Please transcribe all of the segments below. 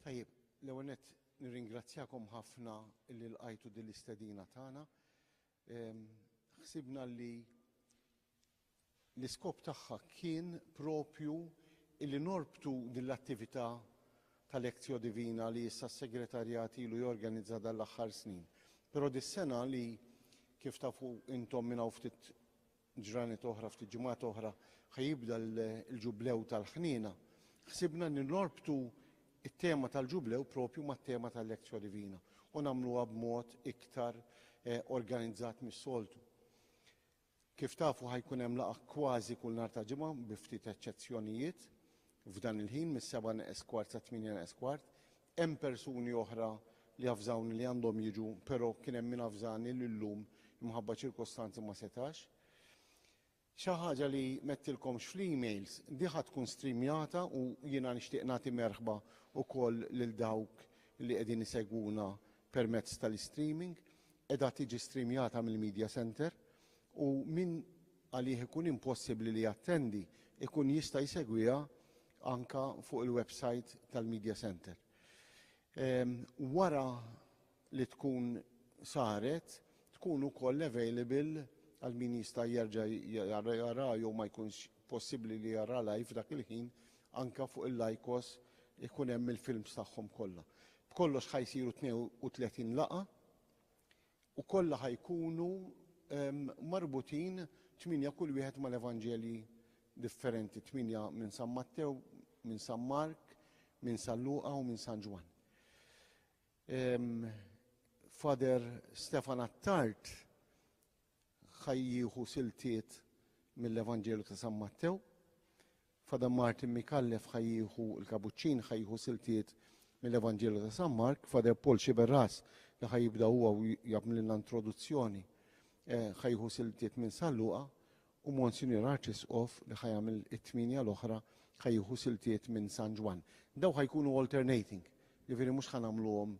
Tajjeb, l-ewwel nett nirringrazzjakom ħafna li lqajtu din l-istedina tagħna. Ħsibna li l-iskop tagħha kien propju li norbtu din l-attività tal-Lectio Divina li issa s-Segretarjat ilu jorganizza dan l-aħħar snin. Però dis-sena li kif tafu intom minn hawn ftit ġranet oħra, ftit ġimgħat oħra, ħa jibda l-Ġublew tal-Ħniena, ħsibna li norbtu t-tema tal-Ġublew proprju mat-tema tal-Lectio Divina u nagħmluha b'mod iktar organizzat mis-soltu. Kif tafu ħa jkun hemm laqgħa kważi kull nhar ta' Ġimgħa bi ftit eċċezzjonijiet, F'dan il-ħin, mis-sebgħa neqes kwart sa tmienja neqes kwart, hemm persuni oħra li avżawni li għandhom jiġu, però kien hemm min avżani li llum imħabba ċirkostanzi ma setax. Xi ħaġa li m'għedtilkomx fl-emails, di ħa tkun streamjata u jiena nixtieq nagħti merħba wkoll lil dawk li qegħdin isegwuna permezz tal-istreaming. Qiegħda tiġi streamjata mill-Media Centre u min għalih ikun impossibbli li jattendi, ikun jista' jsegwiha anke fuq il-websajt tal-Media Centre. Wara li tkun saret, tkun ukoll available għal min jista' jerġa' jaraha jew ma jkunx possibbli li jaraha live f'dak il-ħin, anke fuq il-Lycos ikun hemm il-films tagħhom kollha. B'kollox ħa jsiru 32 laqgħa u kollha ħa jkunu marbutin tmienja kull wieħed mal-Evanġelji differenti, tmienja minn San Mattew, minn San Mark, minn San Luqa u minn San Ġwann. Father Stefan Attard ħa jieħu siltiet mill-Evanġelju ta' San Mattew, F'Adam Martin Micallef ħa jieħu l-kapuċċin, ħa jieħu siltiet mill-Evanġelju ta' San Mark, Father Paul Sciberras li ħa jibda huwa u jagħmlilna introduzzjoni eh, ħa jieħu siltiet minn San Luqa u Monsignor Arċisqof li ħa jagħmel it-tminja l-oħra ħa jieħu siltiet minn San Ġwan. Daw ħa jkunu alternating, jiġifieri mhux ħa nagħmluhom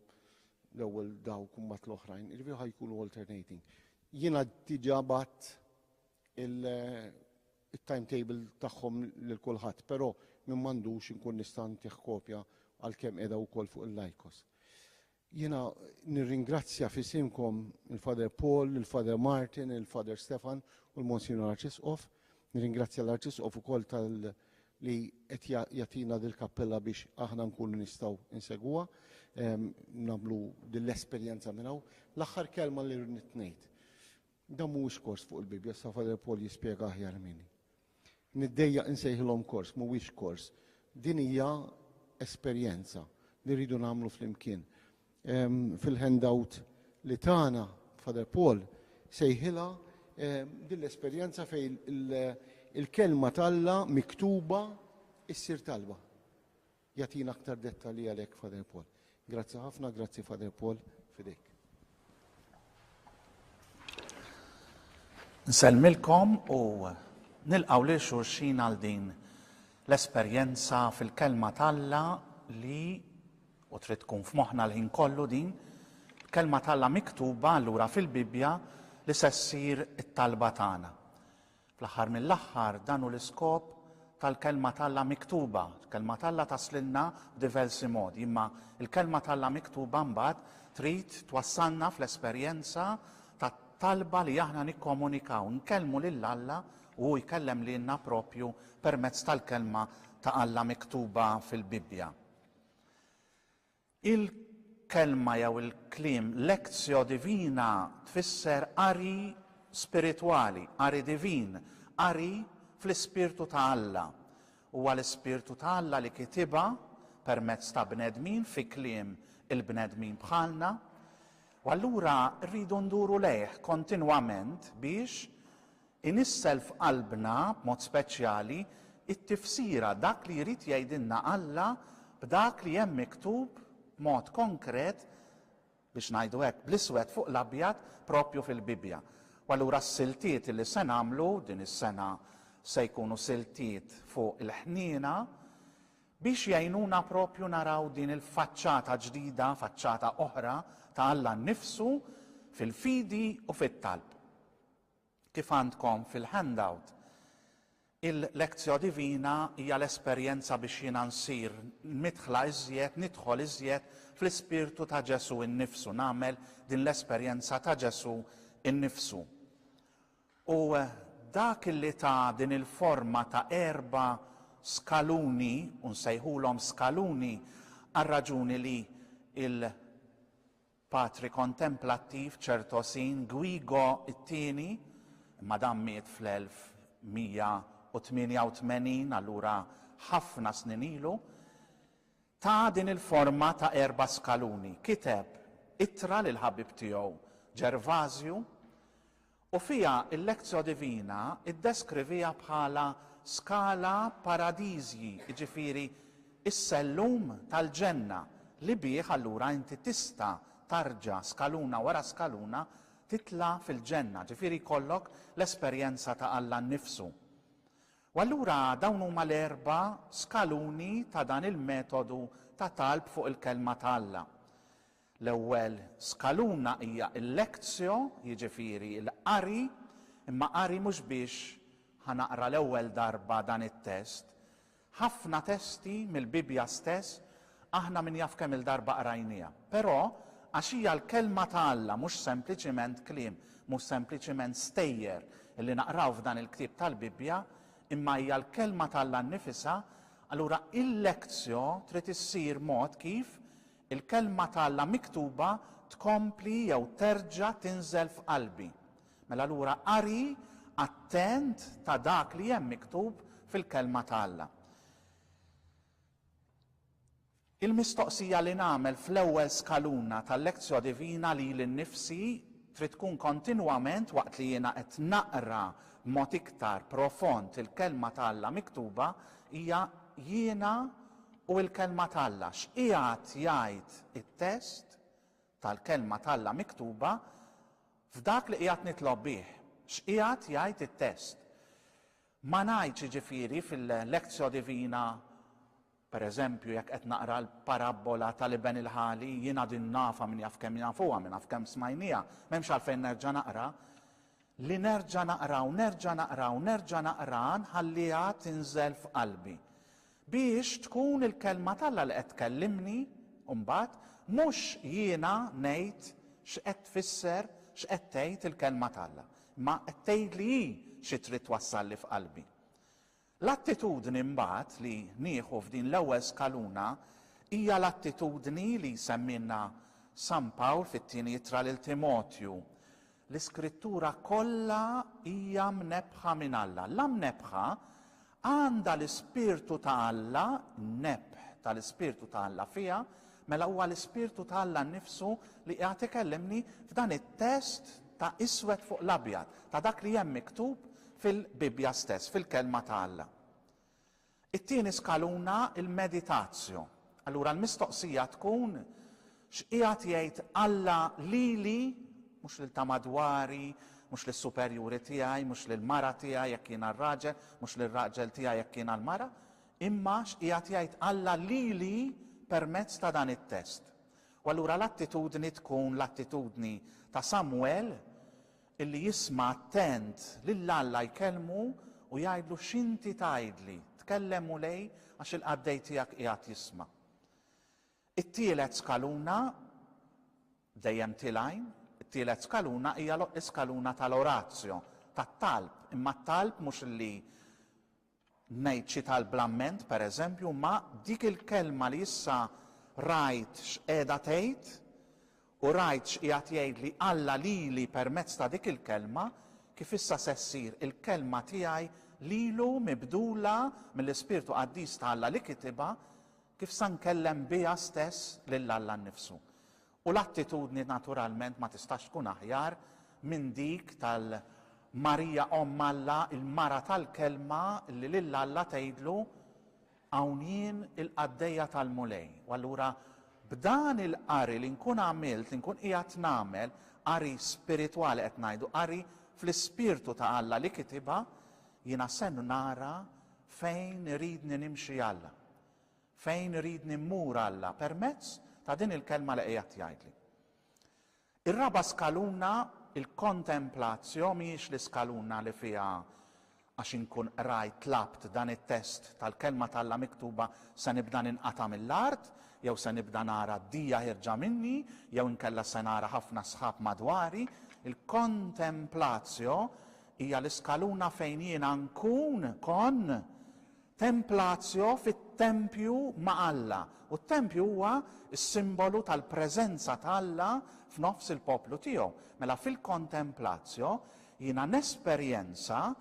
l-ewwel daw kumbat l-oħrajn, jiġifieri ħa jkunu alternating. Jiena diġà bat il- it-timetable tagħhom lil kulħadd, però min m'għandux inkun nista' ntih kopja għalkemm qiegħda wkoll fuq il-Lycos. Jiena nirringrazzja f'isimkom il-Father Paul, il-Father Martin, il-Father Stefan u l-Monsignor Arċisqof. Nirringrazzja l-Arċisqof ukoll tal li qed jagħtina dil-kappella biex aħna nkunu nistgħu nsegwa, ehm, nagħmlu dil-esperjenza minn hawn. L-aħħar kelma li rrid ngħid. Dan mhuwiex kors fuq il-Bibbja, issa Father Paul jispjega aħjar minni. Niddejjaq insejħilhom kors, mhuwiex kors. Din hija esperjenza li rridu nagħmlu flimkien. Ehm, fil-handout li tagħna Father Paul sejħilha ehm, din l-esperjenza fejn il-kelma talla miktuba issir talba. Jagħtina aktar dettalji għalhekk Father Paul. Grazzi ħafna, grazzi Father Paul, f'idejk. Nsellmilkom u nilqgħu lil xulxin għal din l-esperjenza fil-kelma t'Alla li u trid tkun f'moħħna l-ħin kollu din, kelma t'Alla miktuba allura fil-Bibbja li se ssir it-talba tagħna. Fl-aħħar mill-aħħar, dan hu l-iskop tal-Kelma t'Alla miktuba. Il-Kelma t'Alla taslilna b'diversi modi, imma l-Kelma t'Alla miktuba mbagħad trid twassalna fl-esperjenza tat-talba li aħna nikkomunikaw, nkellmu lil Alla u hu jkellem lilna proprju permezz tal-Kelma ta' Alla miktuba fil-Bibbja. Il-kelma jew il-kliem lectio divina tfisser qari spiritwali, qari divin, qari fl-ispirtu ta' Alla. Huwa l-ispirtu ta' Alla li kitibha permezz ta' bnedmin fi kliem il-bnedmin bħalna. U allura rridu nduru lejh kontinwament biex Inissel f'qalbna, b'mod speċjali, it-tifsira, dak li jrid jgħidilna Alla b'dak li hemm miktub b'mod konkret, biex ngħidu hekk, bl-iswed fuq l-abjad, proprju fil-Bibbja. U allura s-siltiet li se nagħmlu, din is-sena se jkunu siltiet fuq il-ħniena, biex jgħinuna proprju naraw din il-faċċata ġdida, faċċata oħra ta' Alla nnifsu fil-fidi u fit-talb. Kif għandkom fil-handout, il-Lectio Divina hija l-esperjenza biex jiena nsir midħla iżjed, nidħol iżjed fl-ispirtu ta' Ġesù innifsu, nagħmel din l-esperjenza ta' Ġesù innifsu. U dak li ta din il-forma ta' erba' skaluni, u nsejħulhom skaluni għar-raġuni li l. Patri kontemplattiv Ċertosin, Gwigo t-Tieni, imma dan miet fl-1188, allura ħafna snin ilu, ta din il-forma ta' erba' skaluni. Kiteb ittra lill-ħabib tiegħu Ġervażju, U fiha l-Lectio Divina ddeskriviha bħala scala paradisii, jiġifieri s-sellum tal-ġenna li bih allura inti tista' tarġa' skaluna wara skaluna titla' fil-ġenna, ġifieri jkollok l-esperjenza ta' Alla nnifsu. U allura dawn huma l-erba' skaluni ta' dan il-metodu ta' talb fuq il-Kelma ta' Alla. L-ewwel skaluna hija l-lectio, jiġifieri l-qari, imma qari mhux biex ħa naqra l-ewwel darba dan it-test. Ħafna testi mill-Bibbja stess aħna min jaf kemm il-darba qrajnieha. Però, għax hija l-Kelma ta' Alla mhux sempliċiment kliem, mhux sempliċiment stejjer li naqraw f'dan il-ktieb tal-Bibbja, imma hija l-Kelma ta' Alla nnifisha, allura il-lectio trid issir mod kif Il-Kelma ta' Alla miktuba tkompli jew terġa' tinżel f'qalbi. Mela allura qari attent ta' dak li hemm miktub fil-Kelma ta' Alla. Il-mistoqsija li nagħmel fl-ewwel skaluna tal-Lectio Divina lili nnifsi trid tkun kontinwament waqt li jiena qed naqra b'mod iktar profond il-Kelma ta' Alla miktuba hija, Jiena U l-Kelma t'Alla? X'qiegħed jgħid it-test tal-Kelma t'Alla miktuba f'dak li qiegħed nitlob bih? X'qiegħed jgħid it-test? Ma ngħidx, jiġifieri, fil-Lectio Divina, pereżempju, jekk qed naqra l-parabbola tal-iben il-ħali, jien għad innafha, min jaf kemm nafuha, min jaf kemm smajnieha, m'hemmx għalfejn nerġa' naqra, li nerġa' naqra u nerġa' naqra u nerġa' naqraha nħalliha tinżel f'qalbi. Biex tkun il-Kelma t'Alla li qed tkellimni, u mbagħad, mhux jiena ngħid x'qed tfisser, x'qed tgħid il-Kelma t'Alla, imma qed tgħidli hi xi trid twassalli f'qalbi. L-attitudni mbagħad li nieħu f'din l-ewwel skaluna hija l-attitudni li jsemmilna San Pawl fit-Tieni Ittra lil Timotju, L-Iskrittura kollha hija mnebbħa minn Alla. La mnebbħa, għandha l-Ispirtu ta' Alla, n-nebħ ta' l-Ispirtu ta' Alla fiha, mela huwa l-Ispirtu ta' Alla nnifsu li qiegħed ikellimni f'dan it-test ta' iswed fuq l-abjad, ta' dak li hemm miktub fil-Bibbja stess, fil-Kelma ta' Alla. It-tieni skaluna l-meditatio. Allura l-mistoqsija tkun, X'qiegħed jgħid Alla lili, mhux lil ta' madwari, mhux lis-superjuri tiegħi, mhux lill-mara tiegħi jekk jiena r-raġel, mhux lir-raġel tiegħi jekk jiena l-mara, imma x'qiegħed jgħid Alla lili permezz ta' dan it-test? U allura l-attitudni tkun l-attitudni ta' Samwel Illi jisma' attent lil Alla jkellmu u jgħidlu x'inti tgħidli, tkellem Mulej għax il-qaddej tiegħek qiegħed jisma'. It-tielet skaluna, dejjem tilgħin, it-tielet skaluna hija l-iskaluna tal-orazzjo, tat-talb, imma t-talb mhux illi Ngħid xi talb bl-amment, pereżempju, imma dik il-kelma li issa rajt x'qiegħda tgħid u rajt x'qiegħed jgħidli Alla lili permezz ta' dik il-kelma, kif issa se ssir il-kelma tiegħi lilu mibdula mill-Ispirtu Qaddis ta' Alla li kitibha, kif sa nkellem biha stess lil Alla nnifsu. U l-attitudni naturalment ma tistax tkun aħjar minn dik tal-Marija Omm Alla, il-mara tal-Kelma li lil Alla tgħidlu, Hawn jien il-qaddejja tal-Mulej. U allura b'dan il-qari li nkun għamilt, li nkun qiegħed nagħmel, qari spiritwali qed ngħidu, qari fl-ispirtu ta' Alla li kitibha, jiena se nara fejn iridni nimxi Alla. Fejn iridni mmur Alla permezz ta' din il-kelma li qiegħed jgħidli. Ir-raba' skaluna, il-kontemplatio, mhijiex l-iskaluna li fiha għax inkun qrajt, tlabt, dan it-test tal-kelma t'Alla miktuba se nibda ninqata' mill-art, jew se nibda nara d-dija ħierġa minni, jew inkella se nara ħafna sħab madwari. Il-kontemplatio hija l-iskaluna fejn jiena nkun, kont, Templatio fit-tempju ma' Alla, u t-tempju huwa s-simbolu tal-preżenza ta' Alla f'nofs il-poplu tiegħu. Mela fil-Contemplatio jiena nesperjenza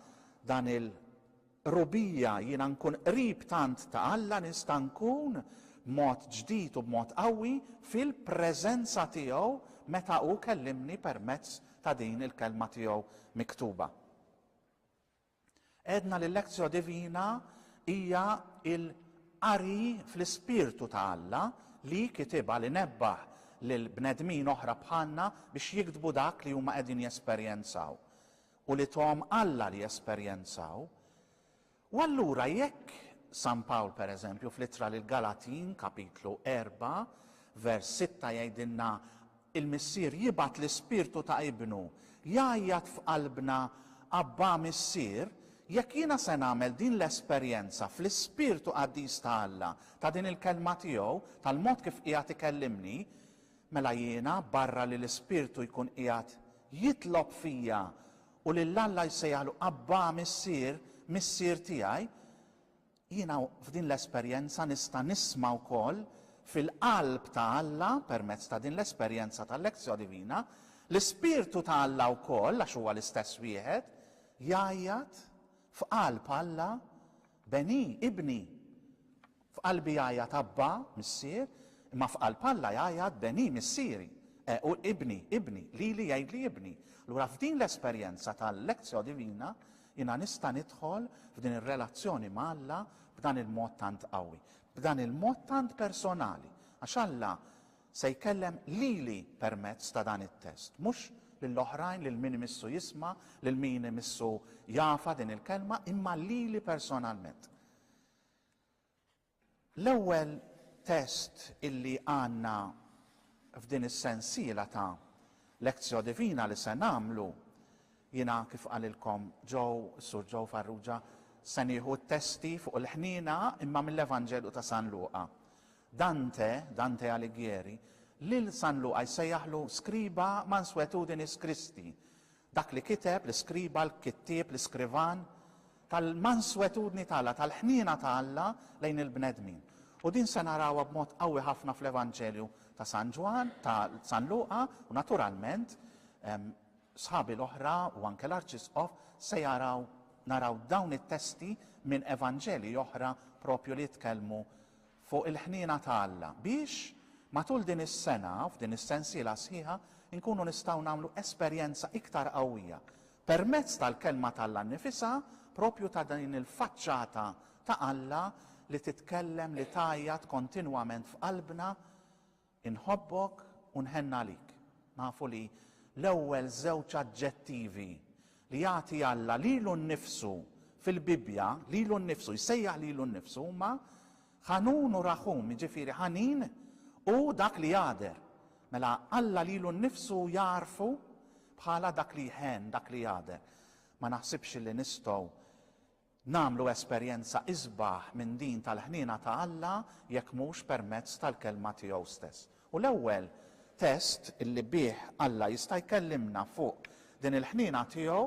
dan il-qrubija, jiena nkun qrib tant ta' Alla, nista' nkun b'mod ġdid u b'mod qawwi fil-preżenza tiegħu meta hu kellimni permezz ta' din il-Kelma tiegħu miktuba. Għedna li l-lectio divina hija l-qari fl-ispirtu ta' Alla li kitibha li nebbaħ lil bnedmin oħra bħalna biex jiktbu dak li huma qegħdin jesperjenzaw u li thom Alla li jesperjenzaw. U allura jekk San Pawl pereżempju fl-Ittra lill-Galatin, Kapitlu 4, vers 6 jgħidilna Il-Missier jibgħat l-Ispirtu ta' Ibnu jgħajjat f'qalbna, Abbà, Missier, jekk jiena se nagħmel din l-esperjenza fl-Ispirtu qaddis ta' Alla, ta' din il-Kelma tiegħu, tal-mod kif qiegħed ikellimni, mela jiena, barra li l-Ispirtu jkun qiegħed jitlob fija u lil Alla jsejjaħlu Abbà, Missier, Missier tiegħi, Jiena f'din l-esperjenza nista' nisma' wkoll fil-qalb ta' Alla permezz ta' din l-esperjenza tal-Lectio Divina, l-Ispirtu ta' Alla wkoll, għax huwa l-istess wieħed, jgħajjat f'qalb Alla, Beni, Ibni. F'qalbi jgħajjat Abba, Missier, imma f'qalb Alla jgħajjat Beni, Missieri, e u Ibni, Ibni, lili jgħidli Ibni. Allura f'din l-esperjenza tal-Lectio Divina Jiena nista' nidħol f'din ir-relazzjoni ma' Alla b'dan il-mod tant qawwi, b'dan il-mod tant personali, għax Alla se jkellem lili permezz ta' dan it-test, mhux lil oħrajn, lil min imissu jisma', lil min imissu jafha din il-kelma, imma lili personalment. L-ewwel test illi għandna f'din is-sensiela ta' Lectio Divina li se nagħmlu, jiena kif qalilkom Joe, is-Sur Joe Farrugia, se nieħu t-testi fuq il-ħniena imma mill-Evanġelju ta' San Luqa. Dante, Dante Alighieri, lil San Luqa jsejjaħlu scriba mansuetudinis Christi, Dak li kiteb, l-iskriba, l-kittieb, l-iskrivan, tal-manswetudni ta' Alla, tal-ħniena ta' Alla lejn il-bnedmin. U din se narawha b'mod qawwi ħafna fl-Evanġelju ta' San Ġwann, ta' San Luqa, u naturalment, sħabi l-oħra u anke l-Arċisqof se jaraw, naraw dawn it-testi minn Evanġelji oħra propju li jitkellmu fuq il-ħniena ta' Alla, biex, matul din is-sena, f'din is-sensiela sħiħa, inkunu nistgħu nagħmlu esperjenza iktar qawwija, permezz tal-Kelma t'Alla nnifisha, proprju ta' din il-faċċata ta' Alla li titkellem, li tgħajjat kontinwament f'qalbna, Inħobbok u nħenn għalik. Nafu li l-ewwel żewġ aġġettivi li jagħti Alla lilu nnifsu fil-Bibbja, lilu nnifsu, jsejjaħ lilu nnifsu huma Ħanun u Raħum, jiġifieri ħanin u dak li jagħder. Mela Alla lilu nnifsu jagħrfu bħala dak li jħenn, dak li jagħder. Ma naħsibx li nistgħu Nagħmlu esperjenza isbaħ minn din tal-ħniena ta' Alla jekk mhux permezz tal-Kelma tiegħu stess. U l-ewwel test li bih Alla jista' jkellimna fuq din il-ħniena tiegħu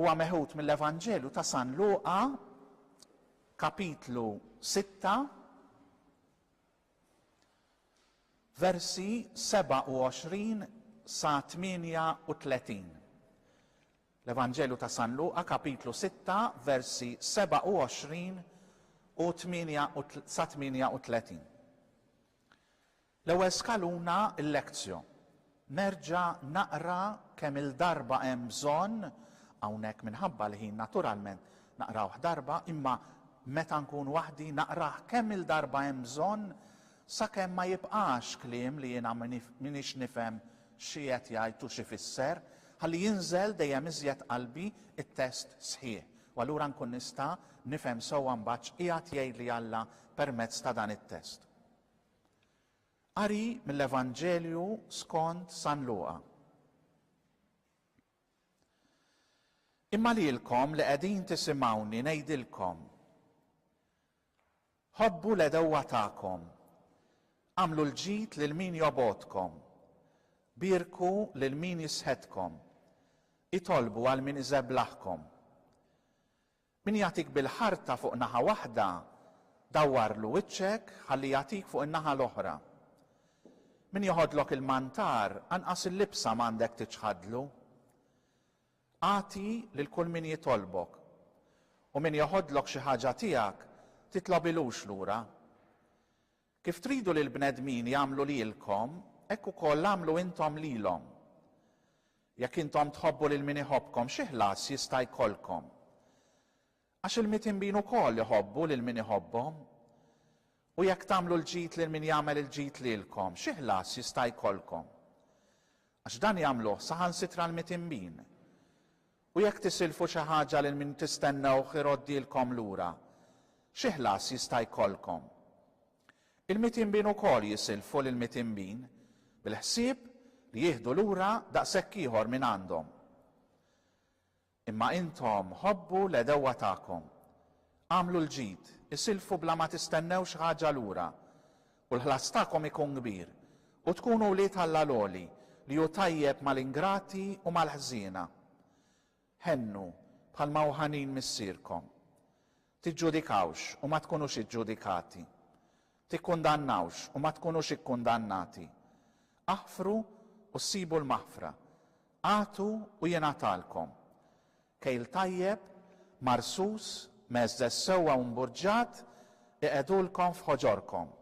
huwa meħud mill-Evanġelju ta' San Luqa, kapitlu sitta, versi 27 sa 38. L-Evanġelju ta' San Luqa, kapitlu sitta, versi 27 u sa 38. L-ewwel skaluna l-lectio. Nerġa' naqra kemm-il darba hemm bżonn, hawnhekk minħabba l-ħin naturalment naqrawh darba, imma meta nkun waħdi naqrah kemm-il darba hemm bżonn Sakemm ma jibqax kliem li jiena m'iniex nifhem xi qed jgħid u x'ifisser, ħalli jinżel dejjem iżjed qalbi t-test sħiħ, u allura nkun nista' nifhem sewwa mbagħad x'qiegħed jgħidli Alla permezz ta' dan it-test. Qari mill-Evanġelju skont San Luqa. Imma lilkom li qegħdin tisimgħuni ngħidilkom, Ħobbu l-għedewwa tagħkom. Agħmlu l-ġid lil min jobgħodkom. Bierku lil min jisħetkom. Itolbu għal min iżeblaħkom. Min jagħtik bil-ħarta fuq naħa waħda, dawwarlu wiċċek ħalli jagħtik fuq in-naħa l-oħra. Min joħodlok il-mantar, anqas il-libsa m'għandek tiċħadlu. Agħti lil kull min jitolbok, u min jeħodlok xi ħaġa tiegħek, titlobilux lura. Kif tridu li l-bnedmin jagħmlu lilkom, hekk ukoll agħmlu intom lilhom. Jekk intom tħobbu lil min iħobbkom, xi ħlas jista' jkollkom? Għax il-mitnbin ukoll iħobbu lil min iħobbhom. U jekk tagħmlu l-ġid lil min jagħmel il-ġid lilkom, xi ħlas jista' jkollkom? Għax dan jagħmluh saħansitra l-mitnbin. U jekk tisilfu xi ħaġa lil min tistennewh iroddilkom lura, xi ħlas jista' jkollkom? Il-mitnbin ukoll jisilfu lill-mitnbin, bil-ħsieb li jieħdu lura daqshekk ieħor mingħandhom. Imma intom ħobbu l-għedewwa tagħkom, agħmlu l-ġid, isilfu bla ma tistennew xi ħaġa lura, u l-ħlas tagħkom ikun kbir, u tkunu wlied Alla l-Għoli, li hu tajjeb mal-ingrati u mal-ħżiena. Ħennu, bħalma hu ħanin Missierkom. Tiġġudikawx u ma tkunux iġġudikati. Tikkundannawx u ma tkunux ikkundannati. Aħfru u ssibu l-maħfra. Agħtu u jingħatalkom. Kejl tajjeb, marsus, mgħeżżeż sewwa u mburġġat iqegħdulkom f'ħoġorkom.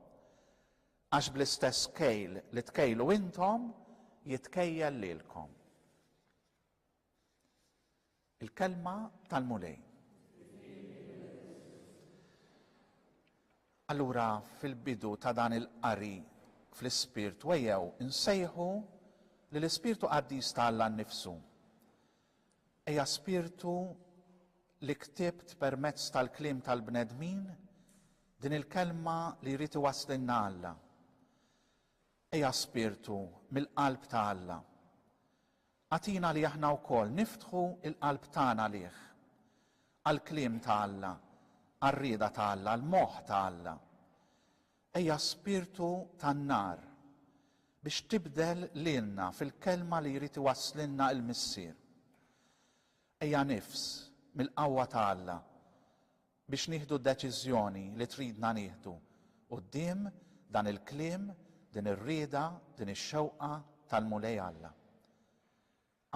Għax bl-istess kejl li tkejlu intom, jitkejjel lilkom. Il-kelma tal-Mulej. Allura fil-bidu ta' dan il-qari fl-ispirt wejjew insejħu li l-ispirtu qaddis ta' Alla nnifsu. Eja spirtu li ktibt permezz tal-kliem tal-bnedmin din il-kelma li jrid iwaslinna Alla. Eja spirtu mill-qalb ta' Alla. Agħtina li aħna wkoll niftħu l-qalb tagħna għalih, għall-kliem ta' Alla, għar-rieda ta' Alla, għall-moħħ ta' Alla. Ejja Spirtu tan-nar biex tibdel lilna fil-kelma li jrid iwasslilna l-Missier. Ejja nifs, mill-qawwa ta' Alla, biex nieħdu d-deċiżjoni li tridna nieħdu quddiem dan il-kliem, din ir-rieda, din ix-xewqa tal-Mulej Alla.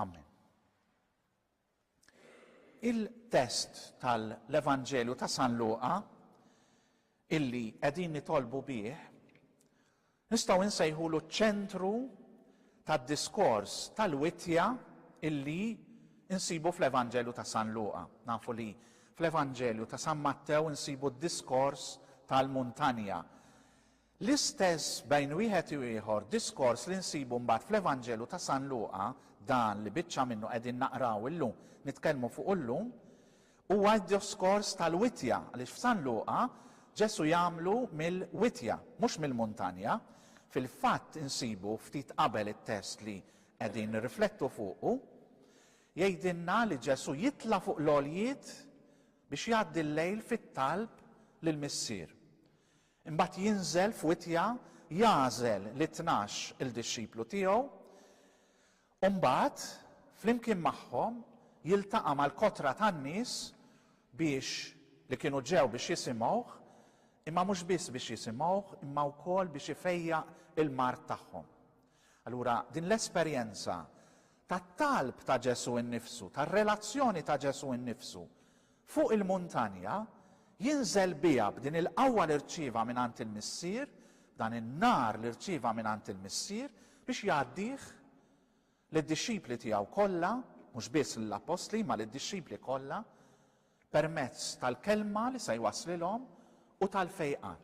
Amen. Il-test tal-Evanġelju ta' San Luqa illi qegħdin nitolbu bih Nistgħu nsejħulu ċ-ċentru tad-diskors tal-wittja illi nsibu fl-Evanġelju ta' San Luqa. Nafu li fl-Evanġelju ta' San Mattew nsibu d-diskors tal-muntanja. L-istess bejn wieħed u ieħor diskors li nsibu mbagħad fl-Evanġelju ta' San Luqa, dan li biċċa minnu qegħdin naqraw illum, nitkellmu fuqu llum, Huwa d-djoskors tal-witja, għaliex f'San Luqa Ġesù jagħmlu mill-witja, mhux mill-muntanja. Fil-fatt insibu ftit qabel it-test li qegħdin nirriflettu fuqu. Jgħidilna li Ġesù jitla' fuq l-għoljiet biex jgħaddi l-lejl fit-talb lill-Missier. Imbagħad jinżel f'witja, jagħżel lit-tnax il-dixxiplu tiegħu, U mbagħad, flimkien magħhom, jiltaqa' mal-kotra tan-nies biex, li kienu ġew biex jisimgħuh, imma mhux biss biex jisimgħuh, imma wkoll biex ifejjaq il-mard tagħhom. Allura, din l-esperjenza tat-talb ta' Ġesù innifsu, tar-relazzjoni ta' Ġesù innifsu, Fuq il-muntanja, jinżel biha b'din il-qawwa li rċieva mingħand il-Missier, b'dan in-nar li rċieva mingħand il-Missier, biex jgħaddih lid-dixxipli tiegħu kollha, mhux biss lill-appostli, imma lid-dixxipli kollha, permezz tal-kelma li se jwasslilhom u tal-fejqan.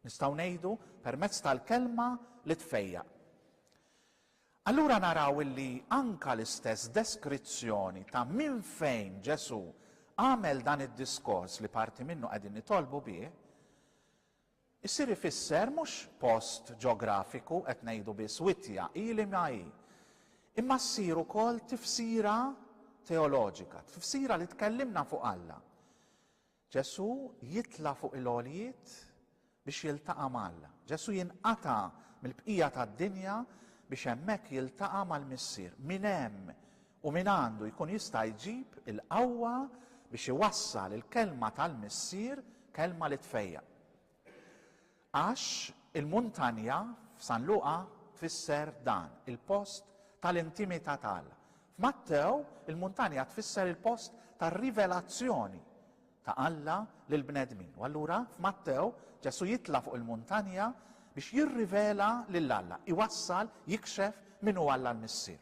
Nistgħu ngħidu, permezz tal-kelma li tfejjaq. Allura naraw illi anka l-istess deskrizzjoni ta' minn fejn Ġesù għamel dan id-diskors li parti minnu qegħdin nitolbu bih, isir ifisser mhux post ġografiku, qed ngħidu biss witja, hi li ma hi, imma ssir ukoll tifsira teoloġika, tifsira li tkellimna fuq Alla. Ġesù jitla' fuq il-għoljiet biex jiltaqa' ma' Alla. Ġesù jinqata' mill-bqija tad-dinja biex hemmhekk jiltaqa' mal-Missier. Minn hemm u mingħandu jkun jista' jġib il-qawwa biex iwassal il-Kelma tal-Missier, Kelma li tfejjaq. Għax il-muntanja f'San Luqa tfisser dan, il-post tal-intimità t'Alla. F'Mattew il-muntanja tfisser il-post tar-rivelazzjoni ta' Alla lill-bnedmin. U allura f'Mattew Ġesù jitla' fuq il-muntanja biex jirrivela lil Alla, iwassal, jikxef min hu Alla l-Missier.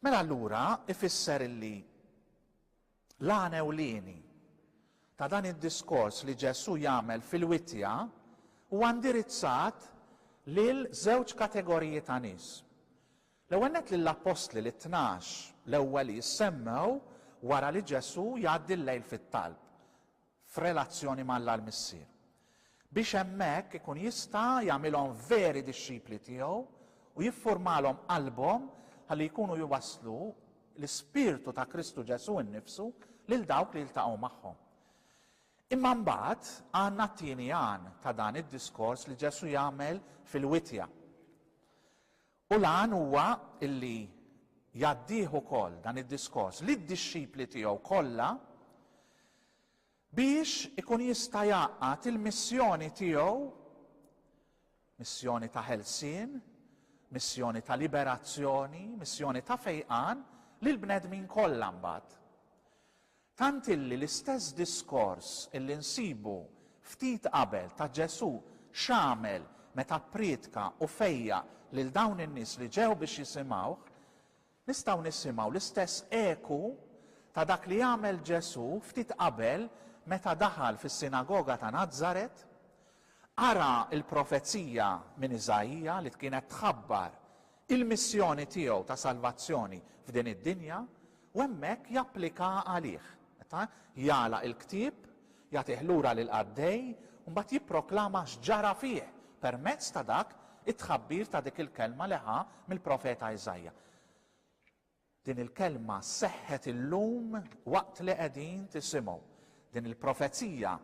Mela allura ifisser illi L-għan ewlieni ta' dan id-diskors li Ġesù jagħmel fil-wittja huwa indirizzat lil żewġ kategoriji ta' nies. L-ewwel nett lill-appostli, lit-tnax, l-ewwel li jissemmew wara li Ġesù jgħaddi l-lejl fit-talb. f'relazzjoni ma' Alla l-Missier, biex hemmhekk ikun jista' jagħmilhom veri dixxipli tiegħu u jiffurmalhom qalbhom ħalli jkunu jwasslu l-ispirtu ta' Kristu Ġesù nnifsu lil dawk li jiltaqgħu magħhom. Imma mbagħad għandna t-tieni għan ta' dan id-diskors li Ġesù jagħmel fil-witja. U l-għan huwa li jgħaddih ukoll dan id-diskors lid-dixxipli tiegħu kollha biex ikun jista' jgħaqqad il-missjoni tiegħu, missjoni ta' ħelsien, missjoni ta' liberazzjoni, missjoni ta' fejqan, lill-bnedmin kollha mbagħad. Tant illi l-istess diskors illi nsibu ftit qabel ta' Ġesù x'għamel meta pprietka u fejjaq lil dawn in-nies li ġew biex jisimgħuh, nistgħu nisimgħu l-istess eku ta' dak li għamel Ġesù ftit qabel meta daħal fis-sinagoga ta' Nazaret, qara l-profezija minn Iżaija li kienet tħabbar il-missjoni tiegħu ta' salvazzjoni f'din id-dinja u hemmhekk japplikaha għalih. Meta jagħlaq il-ktieb, jagħtih lura lill-qaddej u mbagħad jipproklama x'ġara fih permezz ta' dak it-tħabbir ta' dik il-kelma li ħa mill-profeta Iżaja. Din il-kelma seħħet illum waqt li qegħdin tisimgħu. Din il-profezija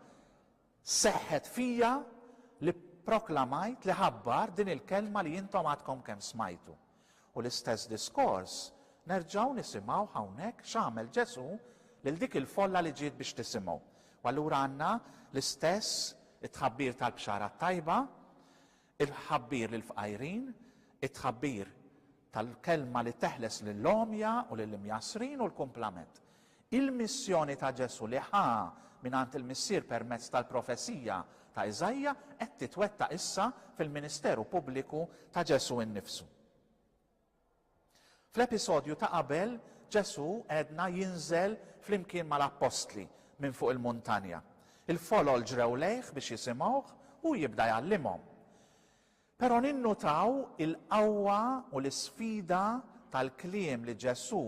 seħħet fija li pproklamajt, li ħabbart din il-kelma li intom għadkom kemm smajtu. U l-istess diskors nerġgħu nisimgħuh hawnhekk x'għamel Ġesù lil dik il-folla li ġiet biex tisimgħu. U allura għandna l-istess it-tħabbir tal-Bxara t-Tajba, it-tħabbir lill-fqajrin, it-tħabbir tal-kelma li teħles lill-għomja u lill-imjassrin u l-kumplament. Il-missjoni ta' Ġesù li ħa mingħand il-Missier permezz tal-profezija ta' Iżaija qed titwettaq issa fil-ministeru pubbliku ta' Ġesù innifsu. Fl-episodju ta' qabel, Ġesù għedna jinżel flimkien mal-appostli minn fuq il-muntanja. Il-folol ġrew lejh biex jisimgħuh u jibda jgħallimhom. Però ninnutaw il-qawwa u l-isfida tal-kliem li Ġesù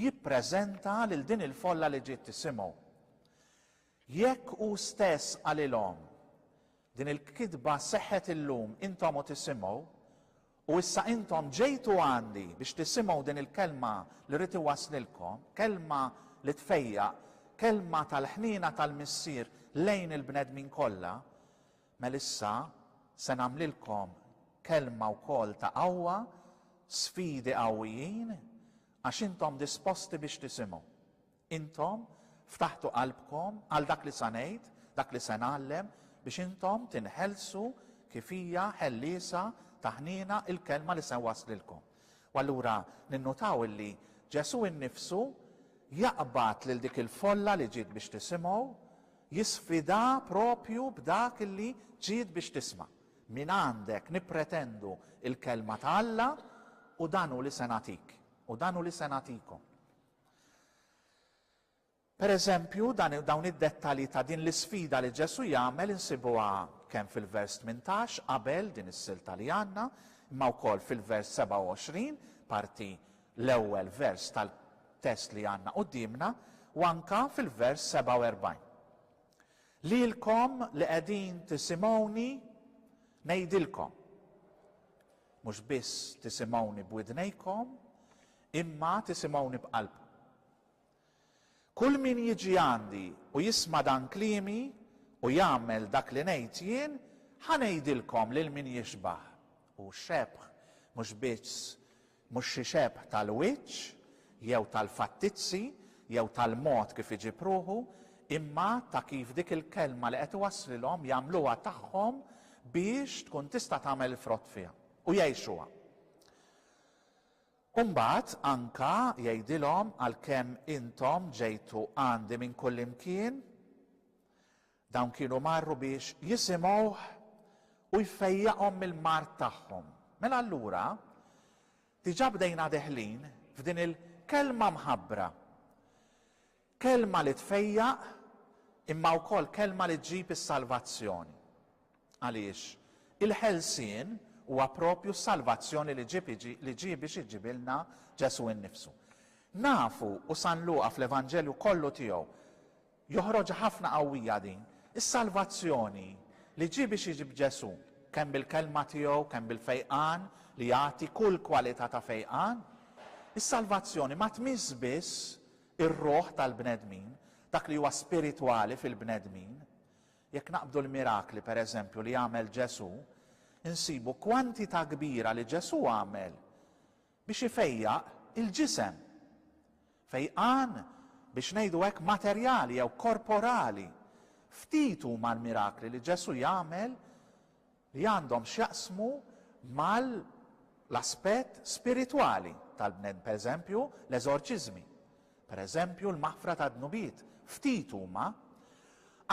jippreżenta lil din il-folla li ġiet tisimgħu. Jekk hu stess qalilhom, Din il-kitba seħħet illum, intom u tisimgħu, u issa intom ġejtu għandi biex tisimgħu din il-kelma li rrid iwasslilkom, kelma li tfejjaq, kelma tal-ħniena tal-Missier lejn il-bnedmin kollha, mela issa se nagħmlilkom kelma wkoll ta' qawwa, sfidi qawwijin, għax intom disposti biex tisimgħu. Intom ftaħtu qalbkom għal dak li sa ngħid, dak li se ngħallem, biex intom tinħelsu kif hija ħelliesa ta' ħniena l-kelma li se nwasslilkom. U allura ninnutaw illi Ġesù innifsu jaqbad lil dik il-folla li ġiet biex tisimgħu, jisfidha proprju b'dak illi ġiet biex tisma', Mingħandek nippretendu l-kelma ta' Alla u dan hu li se nagħtik, u dan hu li se nagħtikom. Pereżempju, dan, dawn id-dettalji ta' din l-isfida li Ġesù jagħmel insibuha kemm fil-vers 18 qabel din is-silta li għandna, imma wkoll fil-vers 27, parti l-ewwel vers tal-test li għandna quddiemna, u anke fil-vers 47. Lilkom li qegħdin tisimgħuni ngħidilkom. Mhux biss tisimgħuni b'widnejkom, imma tisimgħuni b'qalbkom. Kull min jiġi għandi u jisma' dan kliemi u jagħmel dak li ngħid jien, ħa ngħidilkom lil min jixbah, hu xebħ, mhux biss mhux xi xebħ tal-wiċċ jew tal-fattizzi jew tal-mod kif iġib ruħu, imma ta' kif dik il-kelma li qed iwasslilhom jagħmluha tagħhom biex tkun tista' tagħmel il-frott fiha u jgħixuha. U mbagħad anka jgħidilhom, Għalkemm intom ġejtu għandi minn kullimkien, dawn kienu marru biex jisimgħuh u jfejjaqhom mill-mard tagħhom. Mela allura, diġà bdejna deħlin f'din il-Kelma mħabbra. Kelma li tfejjaq imma wkoll kelma li ġġib is-salvazzjoni. Għaliex, il-ħelsien huwa proprju s-salvazzjoni li ġieb li ġie biex iġibilna Ġesù innifsu. Nafu, u San Luqa fl-Evanġelju kollu tiegħu joħroġha ħafna qawwija din, is-salvazzjoni li ġie biex iġib Ġesù, kemm bil-kelma tiegħu, kemm bil-fejqan li jagħti kull kwalità ta' fejqan, is-salvazzjoni ma tmiss biss ir-ruħ tal-bnedmin, dak li huwa spiritwali fil-bnedmin. Jekk naqbdu l-mirakli, per eżempju, li għamel Ġesù, insibu kwantità kbira li Ġesù għamel biex ifejjaq il-ġisem. Fejqan, biex ngħidu hekk, materjali jew korporali. Ftit huma l-mirakli li Ġesù jagħmel li għandhom x'jaqsmu mal-aspett spiritwali tal-bnedm, pereżempju, l-eżorċiżmi, pereżempju, l-maħfra tad-dnubiet, ftit huma,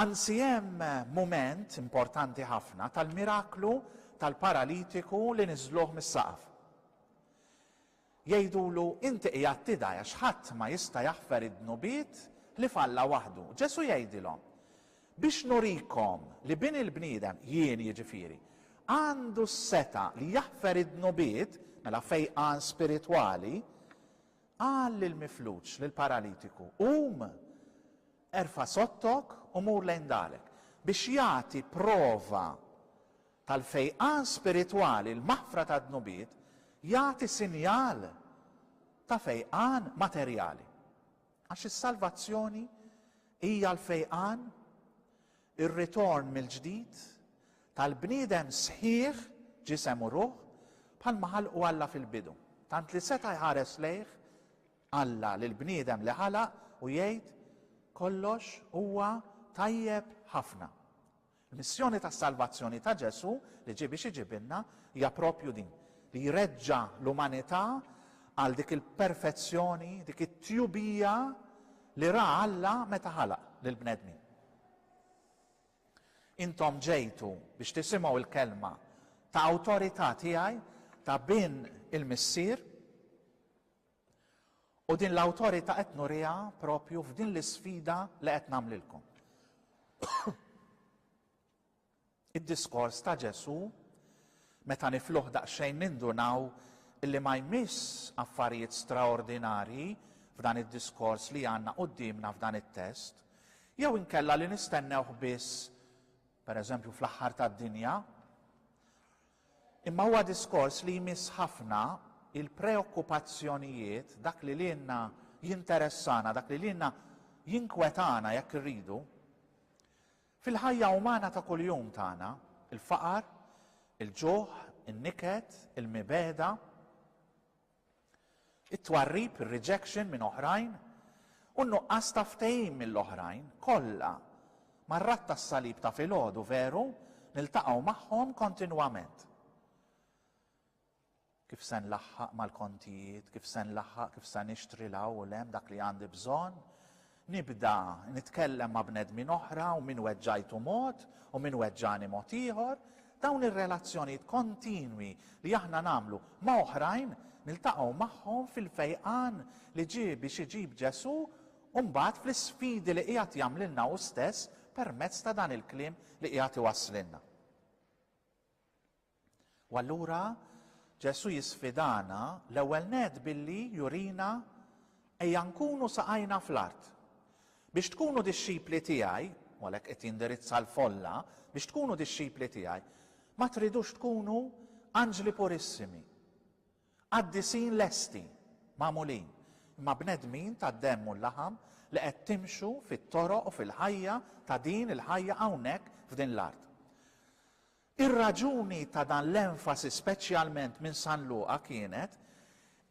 anzi hemm mument importanti ħafna tal-miraklu tal-paralitiku li niżżluh mis-saqaf. Jgħidulu, Inti qiegħed tidgħi għax ħadd ma jista' jaħfer id-dnubiet li f'Alla waħdu. Ġesù jgħidilhom, Biex nurikom li Bin il-bniedem, jien jiġifieri, għandu s-setgħa li jaħfer id-dnubiet, mela fejqan spiritwali, qal lill-mifluġ, lill-paralitiku, Qum, erfa' sottok u mur lejn darek. Biex jagħti prova tal-fejqan spiritwali, l-maħfra tad-dnubiet, jagħti sinjal ta' fejqan materjali. Għax is-salvazzjoni hija l-fejqan, ir-ritorn mill-ġdid, tal-bniedem sħiħ, ġisem u ruħ, bħalma ħalqu Alla fil-bidu. Tant li seta' jħares lejh Alla lill-bniedem li ħalaq u jgħid, Kollox huwa tajjeb ħafna. Il-missjoni ta' salvazzjoni ta' Ġesù li ġie biex iġibilna hija proprju din, li jreġġa' l-umanità għal dik il-perfezzjoni, dik it-tjubija li ra Alla meta ħalaq lill-bnedmin. Intom ġejtu biex tisimgħu l-kelma ta' awtorità tiegħi ta' bin il-Missier, U din l-awtorità qed nuriha proprju f'din l-isfida li qed nagħmlilkom. Id-diskors ta' Ġesù meta nifluh daqsxejn nindunaw illi ma jmiss affarijiet straordinarji f'dan id-diskors li għandna quddiemna f'dan it-test, jew inkella li nistennewh biss, pereżempju fl-aħħar tad-dinja, Imma huwa diskors li jmiss ħafna il-preokkupazzjonijiet, dak li lilna jinteressana, dak li lilna jinkwetana jekk irridu, fil-ħajja umana ta' kuljum tagħna, il-faqar, il-ġuħ, in-niket, il-mibegħda. It-twarrib, ir-rejection minn oħrajn, u n-nuqqas ta' ftehim mill-oħrajn, kollha, mar-Ratt tas-Salib ta' filgħodu, veru, niltaqgħu magħhom kontinwament. Kif se nlaħħaq mal-kontijiet, kif se nlaħħaq, kif se nixtri 'l hawn u 'l hemm dak li għandi bżonn, Nibda nitkellem ma' bnedmin oħra u min weġġajtu mod u min weġġani mod ieħor. Dawn ir-relazzjonijiet kontinwi li aħna nagħmlu ma' oħrajn niltaqgħu magħhom fil-fejqan li ġie biex iġib Ġesù u mbagħad fl-isfidi li qiegħed jagħmlilna hu stess permezz ta' dan il-kliem li qiegħed iwasslilna. U allura Ġesù jisfidana l-ewwel nett billi jurina ejja nkunu saqajna fl-art. Biex tkunu dixxipli tiegħi, u għalhekk qed jindirizza l-folla, biex tkunu dixxipli tiegħi, ma tridux tkunu anġli purissimi, qaddisin lesti, magħmulin, imma bnedmin tad-demm u l-laħam li qed timxu fit-toroq u fil-ħajja ta' din il-ħajja hawnhekk f'din l-art. Ir-raġuni ta' dan l-enfasi speċjalment minn San Luqa kienet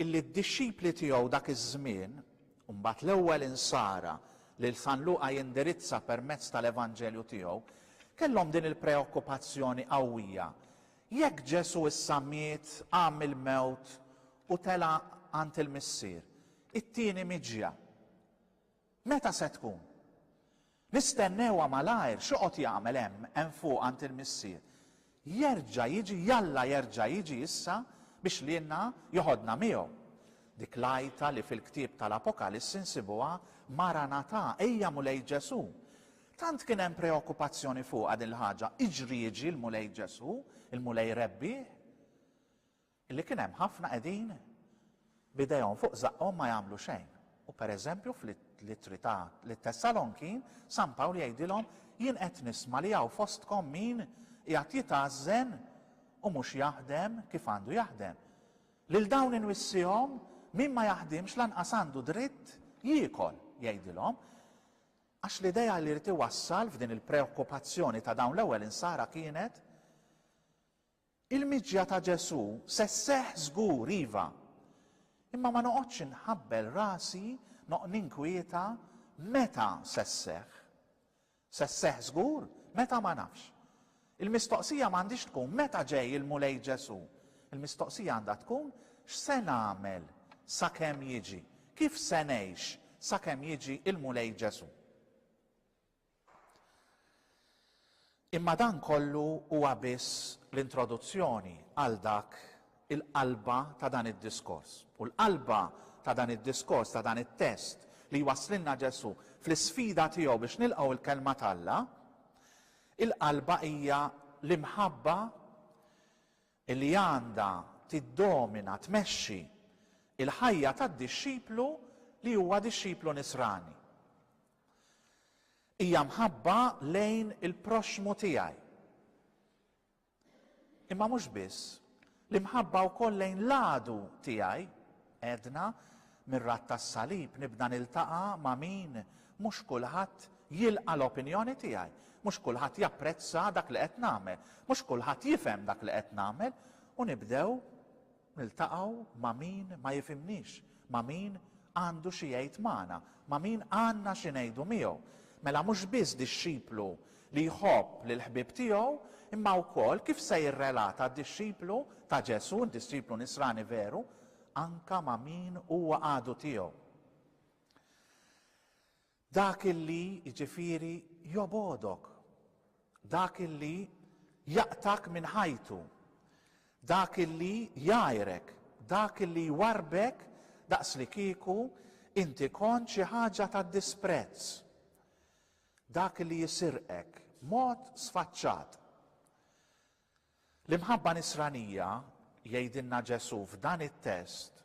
illi d-dixxipli tiegħu dak iż-żmien, u mbagħad l-ewwel Insara lil San Luqa jindirizza permezz tal-Evanġelju tiegħu, kellhom din il-preokkupazzjoni qawwija, Jekk Ġesù issa miet, qam mill-mewt u tela' għand il-Missier, it-tieni miġja, Meta se tkun? Nistennewha malajr, x'joqgħod jagħmel hemm, hemm fuq għand il-Missier? Jerġa' jiġi, jalla jerġa' jiġi issa biex lilna joħodna miegħu. Dik l-għajta li fil-ktieb tal-Apokalissi nsibuha Maranatà, ejja Mulej Ġesù! Tant kien hemm preokkupazzjoni fuqha din l-ħaġa, iġri jiġi l-Mulej Ġesù, il-Mulej Rebbiegħ? Li kien hemm ħafna qegħdin b'idejhom fuq żaqqhom ma jagħmlu xejn. U pereżempju fl-Ittri ta' lit-Tessalonkin, San Pawl jgħidilhom, Jien qed nisma' li hawn fostkom min qiegħed jitgħażżen u mhux jaħdem kif għandu jaħdem. Lil dawn inwissihom, min ma jaħdimx lanqas għandu dritt jiekol, jgħidilhom. Għax l-idea li jrid iwassal f'din il-preokkupazzjoni ta' dawn l-ewwel insara kienet, Il-miġja ta' Ġesù se sseħħ żgur, iva. Imma ma noqgħodx inħabbel rasi, noqgħod ninkwieta meta se sseħħ. Se sseħħ żgur, meta ma nafx. Il-mistoqsija ma għandhiex tkun meta ġej il-Mulej Ġesù. Il-mistoqsija għandha tkun x'se nagħmel sakemm jiġi, kif se ngħix sakemm jiġi l-Mulej Ġesù. Imma dan kollu huwa biss l-introduzzjoni għal dak il-qalba ta' dan id-diskors. U l-qalba ta' dan id-diskors, ta' dan it-test li jwasslilna Ġesù fl-isfida tiegħu biex nilqgħu l-Kelma t'Alla, il-qalba hija l-imħabba li għandha tiddomina, tmexxi, il-ħajja tad-dixxiplu li huwa dixxiplu nisrani. Hija mħabba lejn il-proxxmu tiegħi. Imma mhux biss, l-imħabba wkoll lejn l-għadu tiegħi, għedna, mir-ratt tas-salib nibda niltaqa' ma' min mhux kulħadd jilqa' l-opinjoni tiegħi, mhux kulħadd japprezza dak li qed nagħmel, mhux kulħadd jifhem dak li qed nagħmel u nibdew Niltaqgħu ma' min ma jifhimniex, ma' min għandu xi jgħid magħna, ma' min għandna xi ngħidu miegħu. Mela mhux biss dixxiplu li jħobb lill-ħbieb tiegħu, imma wkoll kif se jirrelata d-dixxiplu ta' Ġesù, d-dixxiplu Nisrani veru, anke ma' min huwa għadu tiegħu? Dak li, jiġifieri, jobgħodok. Dak li jaqtgħek minn ħajtu. Dak li jgħajrek. Dak li jwarrbek daqslikieku inti kont xi ħaġa ta' disprezz. Dak li jsirqek b'mod sfaċċat. L-imħabba nisranija, jgħidilna Ġesù f'dan it-test,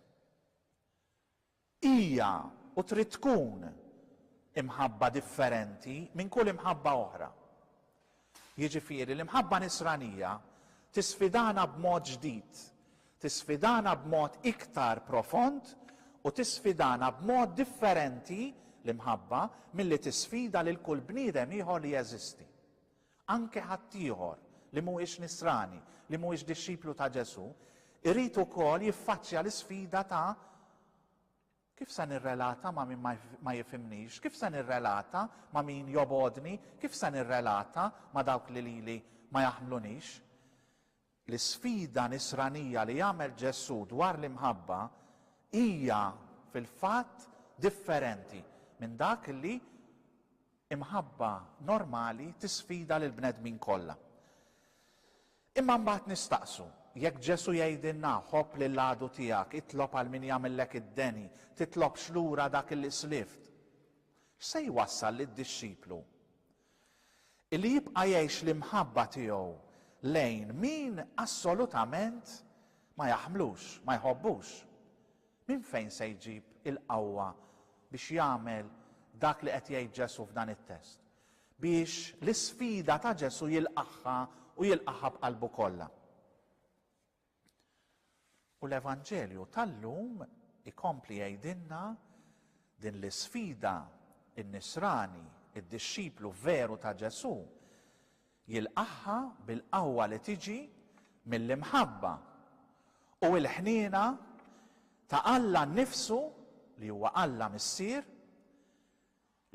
Hija u trid tkun imħabba differenti minn kull imħabba oħra. Jiġifieri, l-imħabba Nisranija tisfidana b'mod ġdid, tisfidana b'mod iktar profond u tisfidana b'mod differenti, l-imħabba, milli tisfida lil kull bniedem ieħor li jeżisti. Anke ħaddieħor li mhuwiex Nisrani, li mhuwiex dixxiplu ta' Ġesù, irid ukoll jiffaċċja l-isfida ta' Kif se nirrelata ma' min ma jifhimnix? Kif se nirrelata ma' min jobgħodni? Kif se nirrelata ma' dawk li lili ma jaħmlunix? L-isfida nisranija li għamel Ġesù dwar l-imħabba hija fil-fatt differenti minn dak li imħabba normali tisfida lill-bnedmin kollha. Imma mbagħad nistaqsu, jekk Ġesù jgħidilna, ħobb lil għadu tiegħek, itlob għal min jagħmillek id-deni, titlobx lura dak li slift, x'se jwassal lid-dixxiplu Illi jibqa' jgħix l-imħabba tiegħu lejn min assolutament ma jaħmlux, ma jħobbux. Minn fejn se jġib il-qawwa biex jagħmel dak li qed jgħid Ġesù f'dan it-test, biex l-isfida ta' Ġesù jilqagħha u jilqagħha b'qalbu kollha? U l-Evanġelju tal-lum ikompli jgħidilna din l-isfida, in-Nisrani, id-dixxiplu veru ta' Ġesù, jilqagħha bil-qawwa li tiġi mill-imħabba u l-ħniena ta' Alla nnifsu, li huwa Alla Missier,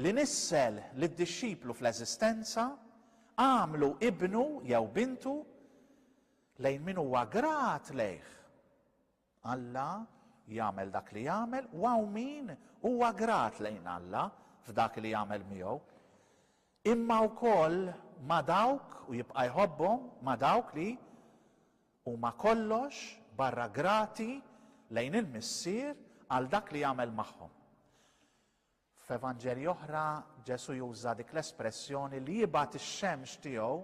li nissel lid-dixxiplu fl-eżistenza, għamlu ibnu jew bintu lejn min huwa grat lejh. Alla jagħmel dak li jagħmel u hawn min huwa grat lejn Alla f'dak li jagħmel miegħu, imma wkoll ma' dawk, u jibqa' jħobbhom, ma' dawk li huma kollox barra grati lejn il-Missier għal dak li jagħmel magħhom. F'evanġelji oħra, Ġesù juża dik l-espressjoni li jibgħat ix-xemx tiegħu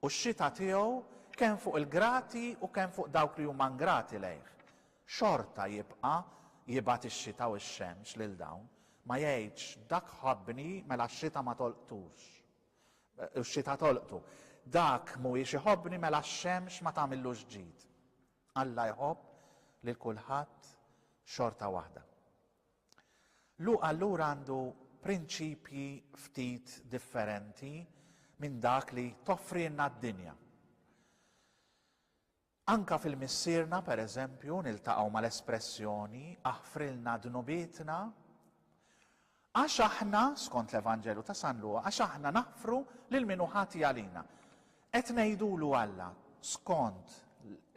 u x-xita tiegħu kemm fuq il-grati u kemm fuq dawk li huma ngrati lejh. Xorta jibqa' jibgħat ix-xita u x-xemx lil dawn. Ma jgħidx, dak ħabbni, mela x-xita ma tolqtux. U x-xita tolqtu. Dak mhuwiex iħobbni mela x-xemx ma tagħmillux ġid. Alla jħobb lil kulħadd xorta waħda. Luqa allura għandu prinċipji ftit differenti minn dak li toffrilna d-dinja. Anka fil-Missierna, per eżempju, niltaqgħu mal-espressjoni aħfrilna dnubietna għax aħna, skont l-Evanġelju ta' San Luqa, għax aħna naħfru lil min hu ħati għalina. Qed ngħidulu Alla skont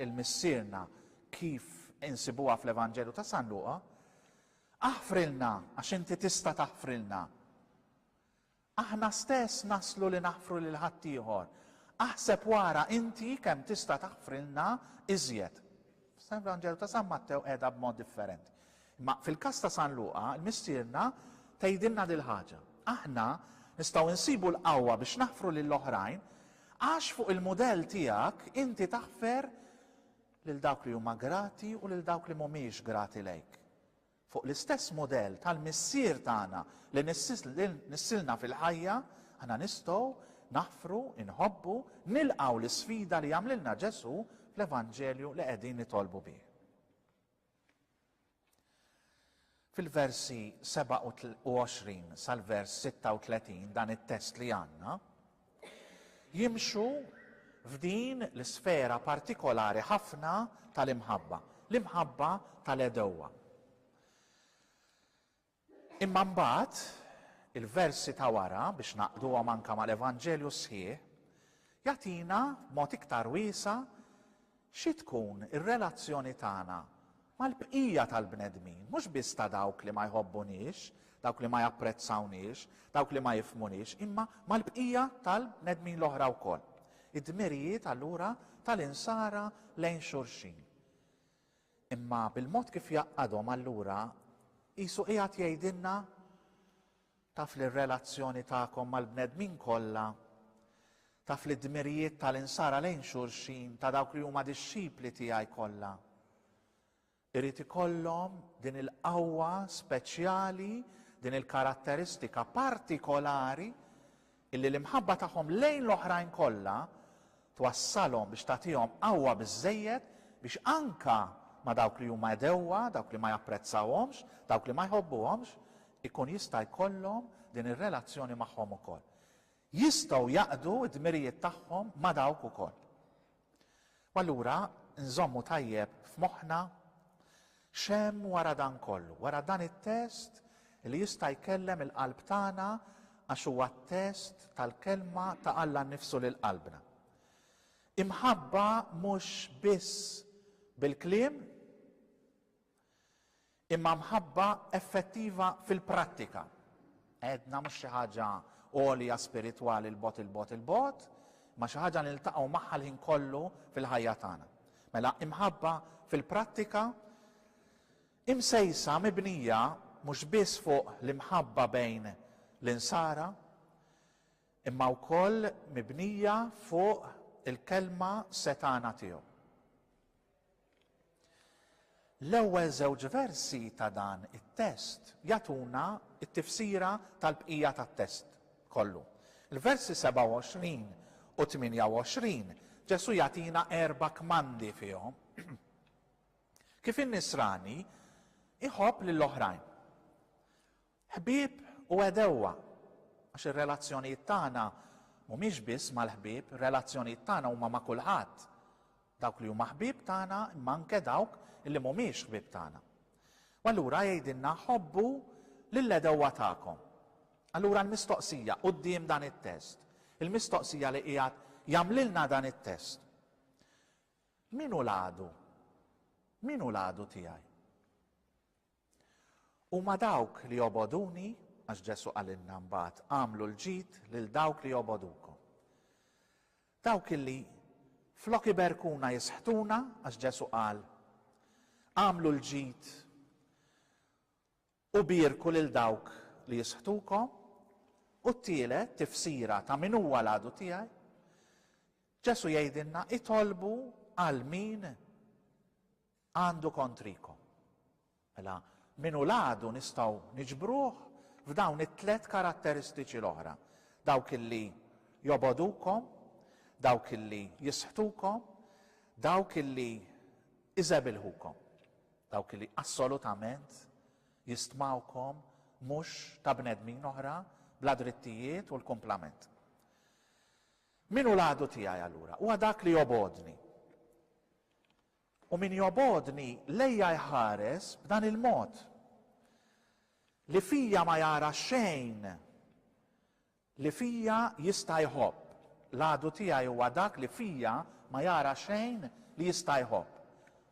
il-Missierna kif insibuha fl-Evanġelju ta' San Luqa, Aħfrilna għax inti tista' taħfrilna. Aħna stess naslu li naħfru lil ħaddieħor. Aħseb u ara inti kemm tista' taħfrilna iżjed. F'San Vanġelu ta' San Mattew qiegħda b'mod differenti. Imma fil-każ ta' San Luqa, il-Missierna tgħidilna dil-ħaġa. Aħna nistgħu nsibu l-qawwa biex naħfru lil oħrajn għax fuq il-mudell tiegħek inti taħfer lil dawk li huma grati u lil dawk li mhumiex grati lejk. Fuq l-istess mudell tal-Missier tagħna li nissilna fil-ħajja, aħna nistgħu naħfru, inħobbu, nilqgħu l-isfida li jagħmlilna Ġesù fl-Evanġelju li qegħdin nitolbu bih. Fil-versi 27 sal-vers 36 dan it-test li għandna, jimxu f'din l-isfera partikolari ħafna tal-imħabba, l-imħabba tal-għedewwa. Imma mbagħad il-versi ta' wara biex naqduhom anke mal-Evanġelju sħiħ jagħtina mod iktar wiesa' Xi tkun ir-relazzjoni tagħna mal-bqija tal-bnedmin, mhux biss ta' dawk li ma jħobbunix, dawk li ma japprezzawniex, dawk li ma jifhmunix, imma mal-bqija tal-bnedmin l-oħra wkoll? Id-dmirijiet allura tal-insara lejn xulxin. Imma bil-mod kif jgħaqqadhom allura qisu qiegħed jgħidilna, Taf li r-relazzjoni tagħkom mal-bnedmin kollha, taf li d-dmirijiet ta' l-insara lejn xulxin, ta' dawk li huma dixxipli tiegħi kollha, irid ikollhom din il-qawwa speċjali, din il-karatteristika partikolari Illi l-imħabba tagħhom lejn l-oħrajn kollha twassalhom biex tagħtihom qawwa biżżejjed biex anke ma' dawk li huma għedewwa, dawk li ma japprezzawhomx, dawk li ma jħobbuhomx, ikun jista' jkollhom din ir-relazzjoni magħhom ukoll. Jistgħu jaqdu d-dmirijiet tagħhom ma' dawk ukoll. U allura nżommu tajjeb f'moħħna x'hemm wara dan kollu, wara dan it-test li jista' jkellem il-qalb tagħna għax huwa t-test tal-Kelma ta' Alla nnifsu lil qalbna. Imħabba mhux biss bil-kliem, imma mħabba effettiva fil-prattika. Għedna mhux xi ħaġa għolja spiritwali 'l bogħod 'il bogħod 'il bogħod, imma xi ħaġa li niltaqgħu magħha l-ħin kollu fil-ħajja tagħna. Mela imħabba fil-prattika imsejsa mibnija mhux biss fuq l-imħabba bejn l-insara, imma wkoll mibnija fuq il-kelma setgħana tiegħu. L-ewwel żewġ versi ta' dan it-test jagħtuna t-tifsira tal-bqija tat-test kollu. Il-versi 27 u 28, Ġesù jagħtina erba' kmandi fihom kif in-Nisrani jħobb lil oħrajn. Ħbieb u għedewwa, għax ir-relazzjonijiet tagħna mhumiex biss mal-ħbieb, ir-relazzjonijiet tagħna huma ma' kulħadd, dawk li huma ħbieb tagħna imma anke dawk li mhumiex ħbieb tagħna. U allura jgħidilna ħobbu lill-għedewwa tagħkom. Allura l-mistoqsija quddiem dan it-test, il-mistoqsija li qiegħed jagħmlilna dan it-test, Min hu l-għadu? Min hu l-għadu tiegħi? Huma dawk li jobgħoduni, għax Ġesù qalilna mbagħad, agħmlu l-ġid lil dawk li jobgħodukom. Dawk illi flok iberkuna jisħtuna, għax Ġesù qal, agħmlu l-ġid u bierku lil dawk li jisħtukom, u t-tielet tifsira ta' min huwa l-għadu tiegħi, Ġesù jgħidilna itolbu għal min Għandu kontrikom. Mela, min hu l-għadu nistgħu niġbruh f'dawn it-tliet karatteristiċi l-oħra, dawk li jobogħdukom, dawk li jisħtukom, dawk li iżebilħukom, dawk li assolutament jistmawkom mhux ta' bnedmin oħra bla drittijiet u l-kumplament. Min hu l-għadu tiegħi allura? Huwa dak li jobogħodni. U min jobgħodni lejja jħares b'dan il-mod, li fija ma jara xejn li fija jista' jħobb. L-għadu tiegħi huwa dak li fija ma jara xejn li jista' jħobb.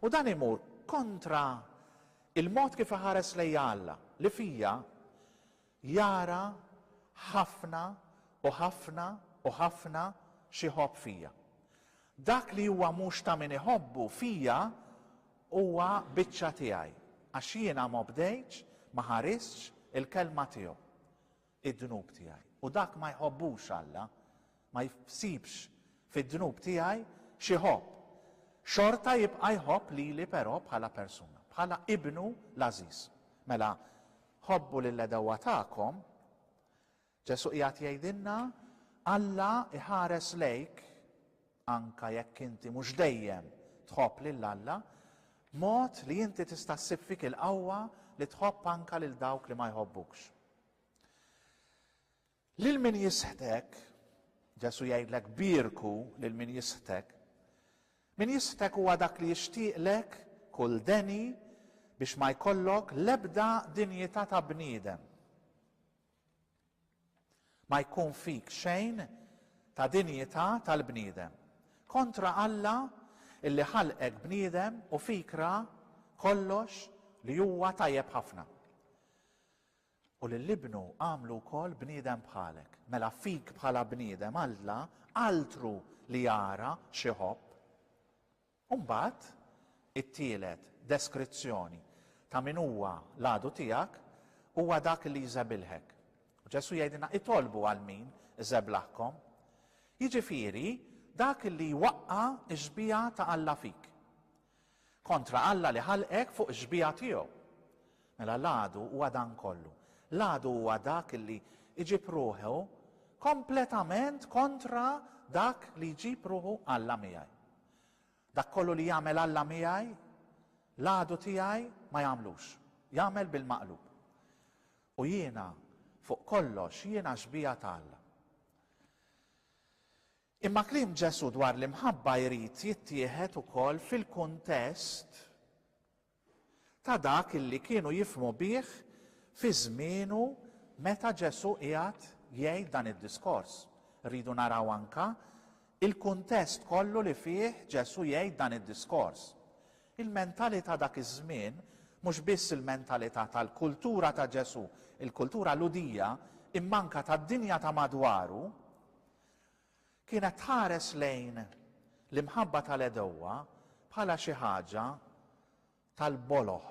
U dan imur kontra il-mod kif iħares lejja Alla, li fija Jara ħafna u ħafna u ħafna x'iħobb fija. Dak li huwa mhux ta' min iħobbu fija huwa biċċa tiegħi, għax jiena m'obdejtx, ma ħaristx, il-kelma tiegħu, id-dnub tiegħi. U dak ma jħobbux Alla, ma jsibx fid-dnub tiegħi xi ħobb, xorta jibqa' jħobb lili però bħala persuna, bħala ibnu l-għażiż. Mela, ħobbu lill-għedewwa tagħkom, Ġesù qiegħed jgħidilna, Alla jħares lejk, anke jekk inti mhux dejjem tħobb lil Alla, b'mod li inti tista' ssib fik il-qawwa li tħobb anke lil dawk li ma jħobbukx. Lil min jisħtek, Ġesù jgħidlek bierku lil min jisħtek. Min jisħtek huwa dak li jixtieqlek kull deni biex ma jkollok l-ebda dinjità ta' bniedem. Ma jkun fik xejn ta' dinjità tal-bniedem. Kontra Alla illi ħalqek bniedem u fik ra kollox li huwa tajjeb ħafna. U lil Ibnu għamlu wkoll bniedem bħalek. Mela fik bħala bniedem Alla altru li jara x'iħobb. U mbagħad, it-tielet deskrizzjoni ta' min huwa l-għadu tiegħek huwa dak li jżebilħek. U Ġesù jgħidilna itolbu għal min żeblaħkom. Jiġifieri dak li jwaqqa' x-xbieha ta' Alla fik. Kontra Alla li ħalqek fuq ix-xbieha tiegħu. Mela l-għadu huwa dan kollu. L-għadu huwa dak li jġib ruħu kompletament kontra dak li jġib ruħu Alla miegħi. Dak kollu li jagħmel Alla miegħi, l-għadu tiegħi ma jagħmlux. Jagħmel bil-maqlub. U jiena, fuq kollox, jiena xbieha ta' Alla. Imma kliem Ġesù dwar l-imħabba jrid jittieħed ukoll fil-kuntest ta' dak li kienu jifhmu bih fi żmienu meta Ġesù qiegħed jgħid dan id-diskors. Irridu naraw anke l-kuntest kollu li fih Ġesù jgħid dan id-diskors. Il-mentalità dak iż-żmien, mhux biss il-mentalità tal-kultura ta' Ġesù, il-kultura Lhudija, imma anke tad-dinja ta' madwaru, Kienet tħares lejn l-imħabba tal-għedewwa bħala xi ħaġa tal-boloh.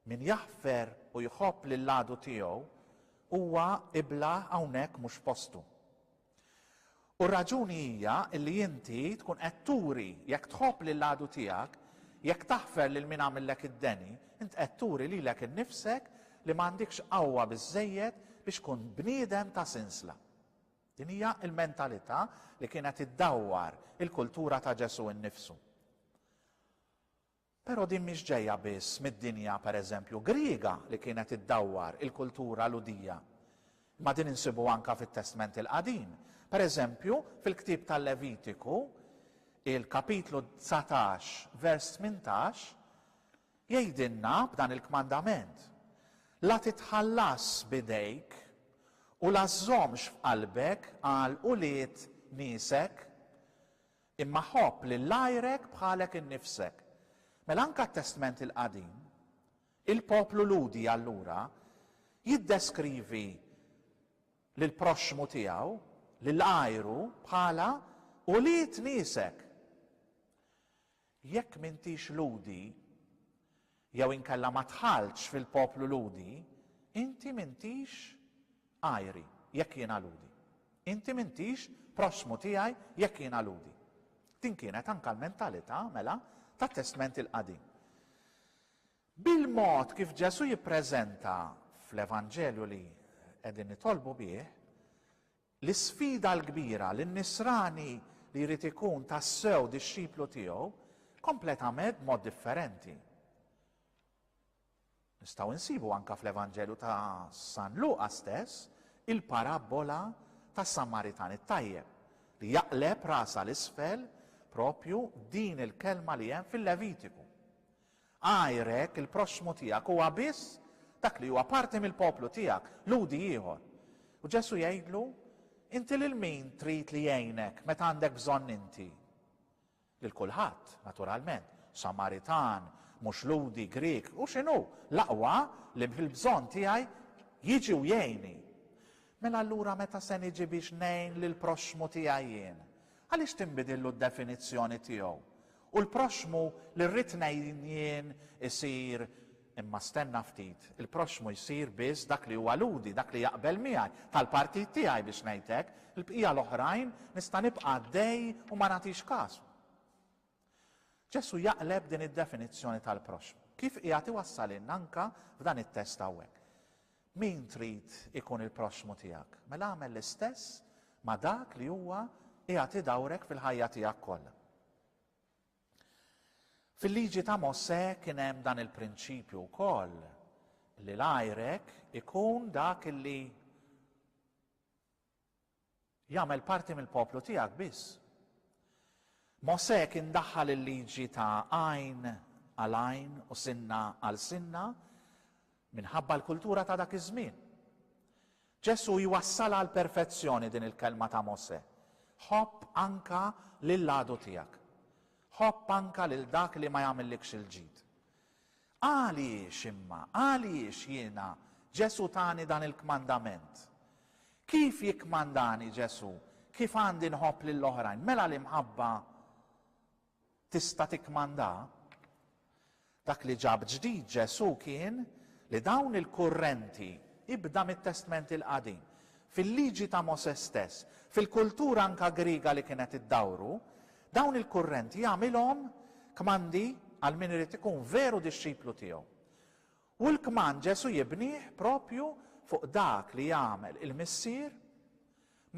Min jaħfer u jħobb lill-għadu tiegħu huwa iblah hawnhekk mhux postu. U r-raġuni hija li inti tkun qed turi jekk tħobb lill-għadu tiegħek, jekk taħfer lil min għamillek id-deni, int qed turi lilek innifsek li m'għandikx qawwa biżżejjed biex tkun bniedem ta' sinsla. Din hija l-mentalità li kienet iddawwar il-kultura ta' Ġesù nnifsu. Però din mhix ġejja biss mid-dinja, per eżempju, Griega li kienet iddawwar il-kultura Lhudija, imma din insibuha anke fit-Testment il-Qadim. Per eżempju, fil-ktieb tal-Levitiku, il-kapitlu dsatax, vers tmintax, Jgħidilna b'dan il-kmandament, La titħallasx b'idejk u la żżommx f'qalbek għal ulied niesek, imma ħobb lil għajrek bħalek innifsek. Mela anke t-Testment il-Qadim, il-poplu Lhudi allura jiddeskrivi lill-proxxmu tiegħu, lil għajru, bħala ulied niesek. Jekk m'intix Lhudi, jew inkella ma dħaltx fil-poplu Lhudi, inti m'intix għajri, jekk jiena Lhudi. Inti m'intix prossmu tiegħi, jekk jiena Lhudi. Din kienet anke l-mentalità, mela, tat-Testment il-Qadim. Bil-mod kif Ġesù jippreżenta fl-Evanġelju li qegħdin nitolbu bih, L-isfida l-kbira li n-nisrani li jrid ikun tassew dixxiplu tiegħu kompletamed b'mod differenti. Nistgħu nsibu anka fl-Evanġelju ta' San Luqa stess il-parabbola tas-Samaritan it-tajjeb li jaqleb rasha 'l isfel propju din il-kelma li hemm fil-Levitiku. Għajrek, il-proxxmu tiegħek, huwa biss dak li huwa parti mill-poplu tiegħek, Lhudi ieħor. U Ġesù jgħidlu, Inti lil min trid li jgħinek meta għandek bżonn inti? Lil kulħadd, naturalment, Samaritan, mhux Lhudi, Grieg, u x'inhu, l-aqwa li fil-bżonn tiegħi jiġi u jgħinni. Mela allura meta se niġi biex ngħin lill-proxxmu tiegħi jien? Għaliex tinbidillu d-definizzjoni tiegħu? U l-proxxmu li rrid ngħin jien isir Imma stenna ftit, il-proxxmu jsir biss dak li huwa Lhudi, dak li jaqbel miegħi, tal-partit tiegħi biex ngħid hekk, il-bqija l-oħrajn nista' nibqa' għaddej u ma nagħtix kas. Ġesù jaqleb din id-definizzjoni tal-proxxmu, kif qiegħed iwassalilna anke f'dan it-test hawnhekk. Min trid ikun il-proxxmu tiegħek? Mela agħmel l-istess ma' dak li huwa qiegħed idawrek fil-ħajja tiegħek kollha. Fil-liġi ta' Mosè kien hemm dan il-prinċipju wkoll li l-għajrek ikun dak li Jagħmel parti mill-poplu tiegħek biss. Mosè kien daħħal il-liġi ta' għajn għal għajn u sinna għal sinna minħabba l-kultura ta' dak iż-żmien. Ġesù jwassalha għal perfezzjoni din il-kelma ta' Mosè. Ħobb anka lill-għadu tiegħek. Ħobb anka lil dak li ma jagħmillikx il-ġid. Għaliex imma, għaliex jiena, Ġesù tani dan il-kmandament? Kif jikkmandani Ġesù kif għandi nħobb lil oħrajn? Mela l-imħabba tista' tikkmanda? Dak li ġab ġdid Ġesù kien li dawn il-kurrenti ibda mit-Testment il-Qadim, fil-Liġi ta' Mosè stess, fil-kultura anka Griega li kienet iddawru, Dawn il-kurrenti jagħmilhom kmandi għal min irid ikun veru dixxiplu tiegħu. U l-kmand Ġesù jibnih proprju fuq dak li jagħmel il-Missier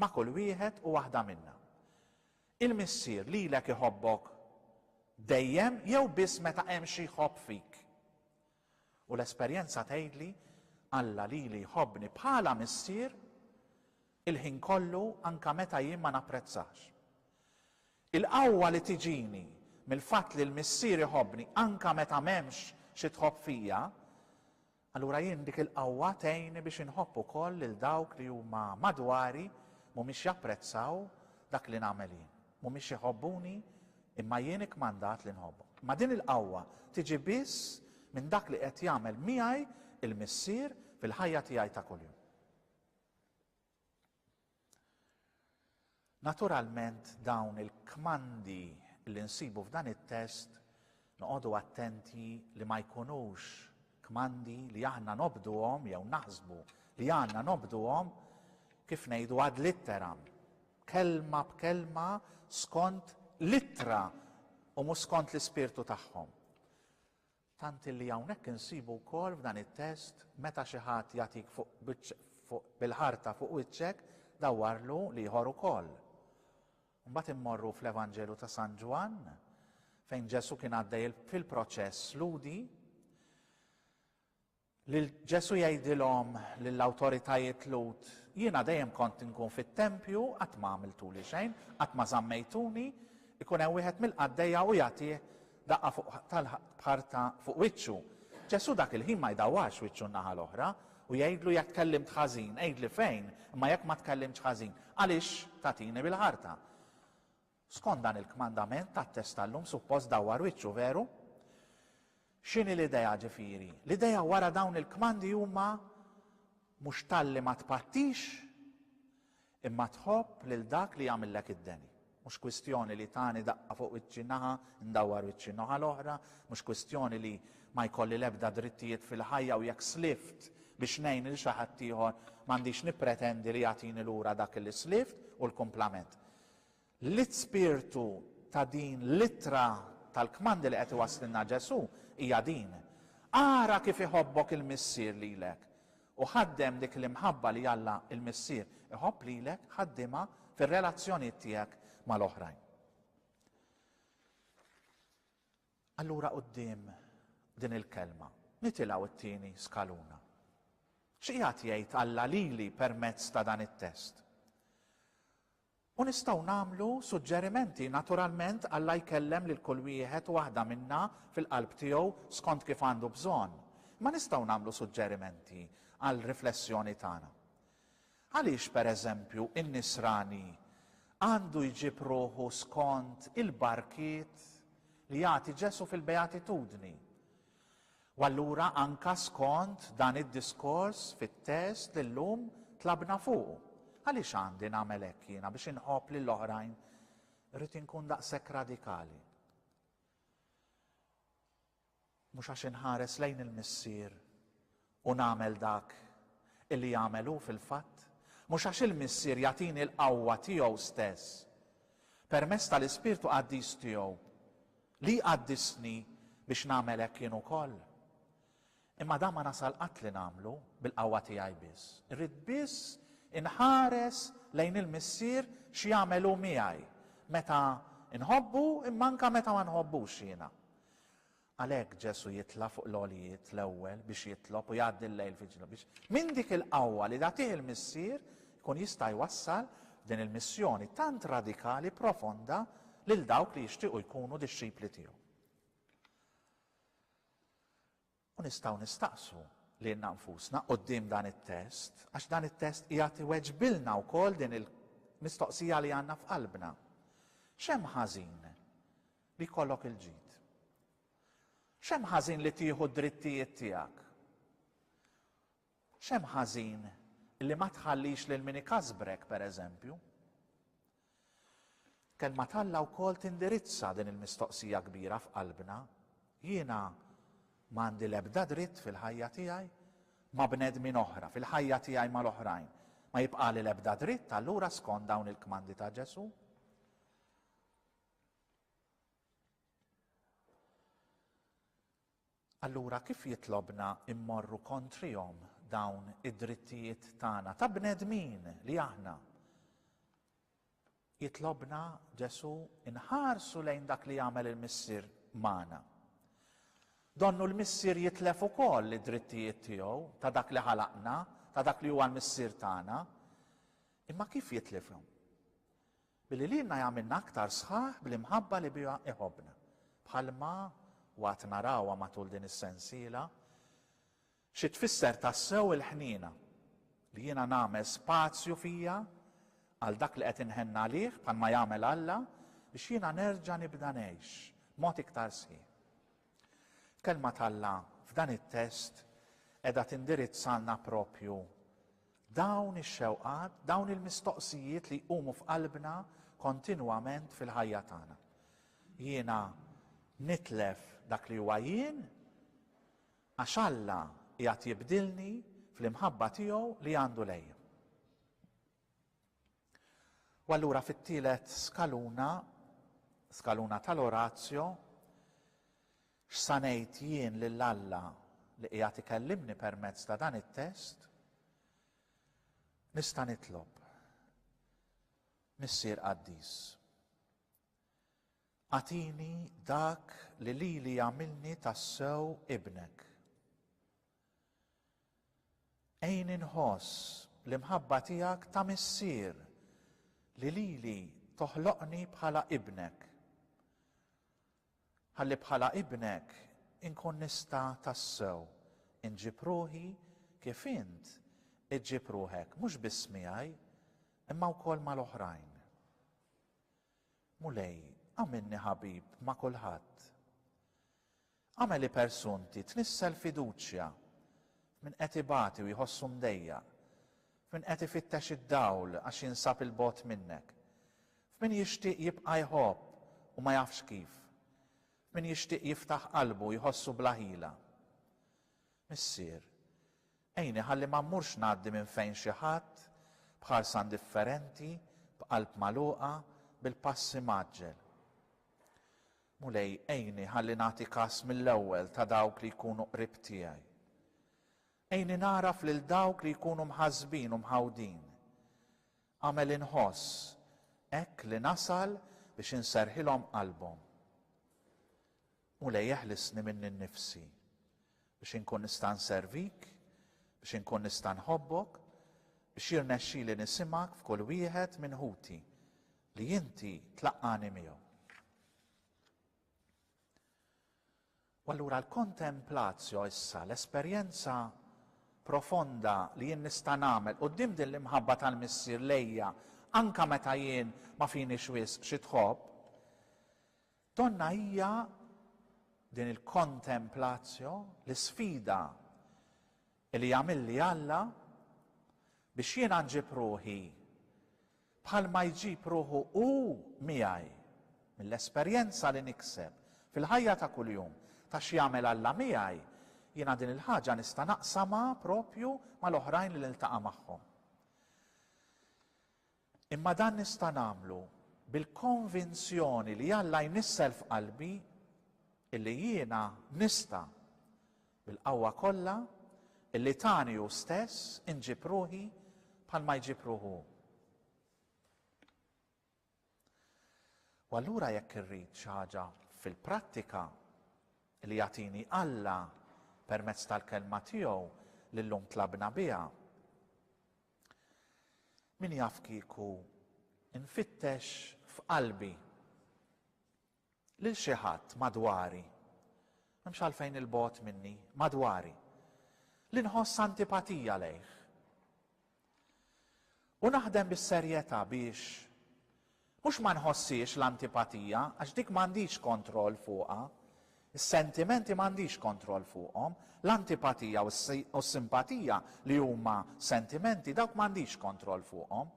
ma' kull wieħed u waħda minna. Il-Missier lilek iħobbok dejjem jew biss meta hemm xi jħobb fik? U l-esperjenza tgħidli Alla lili jħobbni bħala missier il-ħin kollu anke meta jien ma napprezzax. Il-qawwa li tiġini mill-fatt li l-Missier iħobbni anke meta m'hemmx xi tħobb fija, allura jien dik il-qawwa tgħinni biex inħobb ukoll lil dawk li huma madwari mhumiex japprezzaw dak li nagħmel jien. Mhumiex iħobbuni, imma jien ikkmandat li nħobbhom. Imma din il-qawwa tiġi biss minn dak li qed jagħmel miegħi l-Missier fil-ħajja tiegħi ta' kuljum. Naturalment dawn il-kmandi li nsibu f'dan it-test Noqogħdu attenti li ma jkunux kmandi li aħna nobduhom jew naħsbu li għandna nobduhom kif ngħidu ad litteram, kelma b'kelma skont l-ittra u mhux skont l-ispirtu tagħhom. Tant li hawnhekk insibu wkoll f'dan it-test meta xi ħadd jagħtik fuq bil-ħarta fuq wiċċek dawarlu l-ieħor ukoll. Imbagħad immorru fl-Evanġelu ta' San Ġwann fejn Ġesù kien għaddej fil-proċess lhudi lil Ġesù jgħidilhom lill-awtoritajiet Lhud jiena dejjem kont inkun fit-tempju qatt ma għamiltuli xejn, qatt ma żammejtuni, ikun hemm wieħed mill-qaddejja u jagħtih Daqqa fuq b'ħarta fuq wiċċu. Ġesù dak il-ħin ma jdawwarx wiċċu n-naħa l-oħra u jgħidlu jekk tkellimt ħażin, għidli fejn, imma jekk ma tkellimtx ħażin, għaliex tagħtini bil-ħarta? Skont dan il-kmandament tat-test tal-lum suppost dawwar wiċċu, veru? X'inhi l-idea ġifieri? L-idea wara dawn il-kmandi huma mhux talli ma tpattix, Imma tħobb lil dak li jagħmillek id-deni. Mhux kwistjoni li tani daqqa fuq wiċċi naħa, ndawwar wiċċi n-noħa l-oħra, mhux kwistjoni li ma jkolli l-ebda drittijiet fil-ħajja u jekk slift biex ngħin lil xi ħaddieħor m'għandix nippretendi li jagħtini lura dak li slift u l-kumplament. L-ispirtu ta' din l-ittra tal-kmandi li qed iwasslilna Ġesù hija din, Ara kif iħobbok il-Missier lilek, u ħaddem dik l-imħabba li Alla l-Missier iħobb lilek, ħaddimha fir-relazzjonijiet tiegħek mal-oħrajn. Allura quddiem din il-kelma, nitilgħu t-tieni skaluna. X'qiegħed jgħid Alla lili permezz ta' dan it-test? U nistgħu nagħmlu suġġerimenti, naturalment Alla jkellem lil kull wieħed u waħda minna fil-qalb tiegħu skont kif għandu bżonn, imma nistgħu nagħmlu suġġerimenti għal riflessjoni tagħna. Għaliex, per eżempju, in-nisrani għandu jġib ruħu skont il-barkiet li jagħti Ġesù fil-Beatitudni? U allura anka skont dan id-diskors fit-test li llum tlabna fuqu, għaliex għandi nagħmel hekk jiena biex inħobb lil oħrajn? Irrid inkun daqshekk radikali? Mhux għax inħares lejn il-Missier u nagħmel dak illi jagħmel hu fil-fatt? Mhux għax il-Missier jagħtini l-qawwa tiegħu stess permezz tal-Ispirtu Qaddis tiegħu Li jqaddisni biex nagħmel hekk jien ukoll. Imma dan ma nasal qatt li nagħmlu bil-qawwa tiegħi biss. Irrid biss inħares lejn il-Missier x'jagħmel hu miegħi, meta nħobbu imma anke meta ma nħobbux jiena. Għalhekk Ġesù jitla' fuq l-għoljiet l-ewwel biex jitlob u jgħaddi l-lejl fiġ-ġnub biex minn dik il-qawwa li tagħtih il-Missier jkun jista' jwassal f'din il-missjoni tant radikali profonda lil dawk li jixtiequ jkunu dixxipli tiegħu. U nistgħu nistaqsu lilna nfusna quddiem dan it-test, għax dan it-test qiegħed iweġbilna wkoll din il-mistoqsija li għandna f'qalbna. X'hemm ħażin li jkollok il-ġid? X'hemm ħażin li tieħu d-drittijiet tiegħek? X'hemm ħażin li ma tħallix lil min ikasbrek, pereżempju? Kelma t'Alla wkoll tindirizza din il-mistoqsija kbira f'qalbna, Jiena ma għandi l-ebda dritt fil-ħajja tiegħi ma' bnedmin oħra, fil-ħajja tiegħi mal-oħrajn, ma jibqagħli l-ebda dritt allura skond dawn il-kmandi ta' Ġesù? Allura kif jitlobna mmorru kontrihom dawn id-drittijiet tagħna ta' bnedmin li aħna? Jitlobna Ġesù nħarsu lejn dak li jagħmel il-Missier magħna. Donnu l-Missier jitlef ukoll id-drittijiet tiegħu ta' dak li ħalaqna, ta' dak li huwa l-Missier tagħna. Imma kif jitlifhom? Billi lilna jagħmilna aktar sħaħ bl-imħabba li biha iħobbna. Bħalma waqt narawha matul din is-sensiela, xi tfisser tassew il-ħniena, li jiena nagħmel spazju fija għal dak li qed inħenn għalih bħalma jagħmel Alla biex jiena nerġa' nibda ngħix b'mod iktar sħiħ. Kelma t'Alla f'dan it-test qiegħda tindirizzalna proprju dawn ix-xewqat, dawn il-mistoqsijiet li jqumu f'qalbna kontinwament fil-ħajja tagħna. Jiena nitlef dak li huwa jien għax Alla qiegħed jibdilni fl-imħabba tiegħu li għandu lejja. U allura fit-tielet skaluna, skaluna tal-orazzjo, x'sa ngħid jien lil Alla li qiegħed ikellimni permezz ta' dan it-test, nista' nitlob. Missier qaddis. Atini dak li lili jagħmilni tassew ibnek. Għinni nħoss l-imħabba tiegħek ta' missier li lili toħloqni bħala ibnek, ħalli bħala ibnek inkun nista' tassew inġib ruħi kif int iġġib ruħek mhux biss miegħi imma wkoll mal-oħrajn. Mulej, għamilni ħabib ma' kulħadd. Agħmel li persunti tnissel fiduċja f'min qed ibati u jħossu mdejjaq, f'min qed ifittex id-dawl għax jinsab 'il bogħod minnek, f'min jixtieq jibqa' jħobb u ma jafx kif, f'min jixtieq jiftaħ qalbu u jħossu bla ħila. Missier, għinni ħalli ma mmurx ngħaddi minn fejn xi ħadd, b'ħarsa indifferenti, b'qalb magħluqa, bil-pass imgħaġġel. Mulej, għinni ħalli nagħti kas mill-ewwel ta' dawk li jkunu qrib tiegħi. Għinni nagħraf lil dawk li jkunu mħassbin u mħawdin. Agħmel inħoss hekk li nasal biex inserrħilhom qalbhom. Mulej, eħlisni minni nnifsi biex inkun nista' nservik, biex inkun nista' nħobbok, biex jirnexxili nisimgħek f'kull wieħed minn ħuti Li inti tlaqqagħni miegħu. U allura l-kontemplatio issa, l-esperjenza profonda li jien nista' nagħmel quddiem din l-imħabba tal-Missier lejja anka meta jien ma finix wisq xi tħobb, donna hija din il-kontemplatio, l-isfida Li għamilli Alla biex jiena nġib ruħi bħalma jġib ruħu Hu miegħi, mill-esperjenza li nikseb fil-ħajja ta' kuljum ta' x'jagħmel Alla miegħi, jiena din il-ħaġa nista' naqsamha proprju mal-oħrajn li niltaqa' magħhom. Imma dan nista' nagħmlu bil-konvinzjoni li Alla jnissel f'qalbi illi jiena nista', bil-qawwa kollha illi tani hu stess, inġib ruħi bħalma jġib ruħu hu. U allura jekk irrid xi ħaġa fil-prattika li jagħtini Alla permezz tal-kelma tiegħu li llum tlabna biha, Min jaf kieku nfittex f'qalbi lil xi ħadd madwari, m'hemmx għalfejn 'il bogħod minni, madwari, li nħoss antipatija lejh. U naħdem bis-serjetà biex Mhux ma nħossiex l-antipatija, għax dik m'għandix kontroll fuqha. Is-sentimenti m'għandix kontroll fuqhom. L-antipatija u s-simpatija, li huma sentimenti, dawk m'għandix kontroll fuqhom.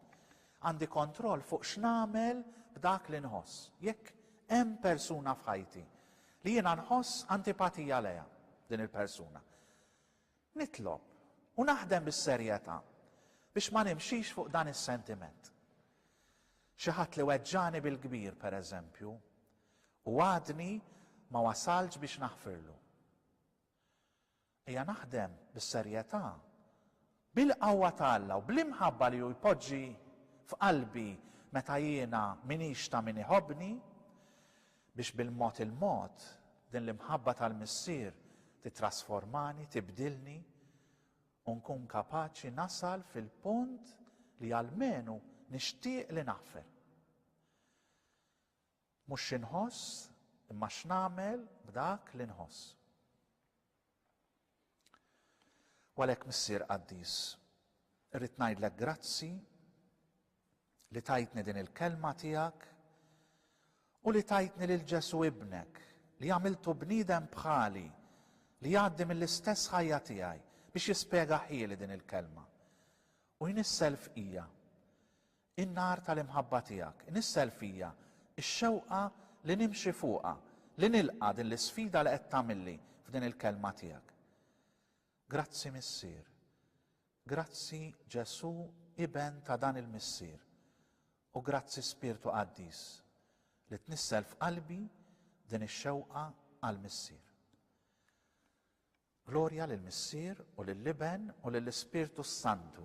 Għandi kontroll fuq x'nagħmel b'dak li nħoss. Jekk hemm persuna f'ħajti li jiena nħoss antipatija lejha, din il-persuna, Nitlob, u naħdem bis-serjetà, biex ma nimxix fuq dan is-sentiment. Xi ħadd li weġġagħni bil-kbir, per eżempju, u għadni ma wasaltx biex naħfirlu. Ejja naħdem bis-serjetà, bil-qawwa ta' Alla u bl-imħabba li hu jpoġġi f'qalbi meta jiena m'iniex ta' min iħobbni, Biex bil-mod il-mod din l-imħabba tal-Missier tittrasformani, tibdilni, u nkun kapaċi nasal fil-punt li almenu nixtieq li naħfer. Mhux xi nħoss, imma x'nagħmel b'dak li nħoss. U għalhekk Missier Qaddis, irrid ngħidlek grazzi li tajtni din il-kelma tiegħek u li tajtni lil Ġesu ibnek li għamiltu bniedem bħali li jgħaddi mill-istess ħajja tiegħi biex jispjega ħieli din il-kelma. U jnissel f'ija. In-nar tal-imħabba tiegħek inissel fija x-xewqa li nimxi fuqha, li nilqa' din l-isfida li qed tagħmilli f'din il-Kelma tiegħek. Grazzi Missier. Grazzi Ġesù Iben ta' dan il-Missier. U grazzi Spirtu Qaddis li tnissel f'qalbi din ix-xewqa għall-Missier. Glorja lill-Missier u lill-Iben u lill-Ispirtu s-Santu.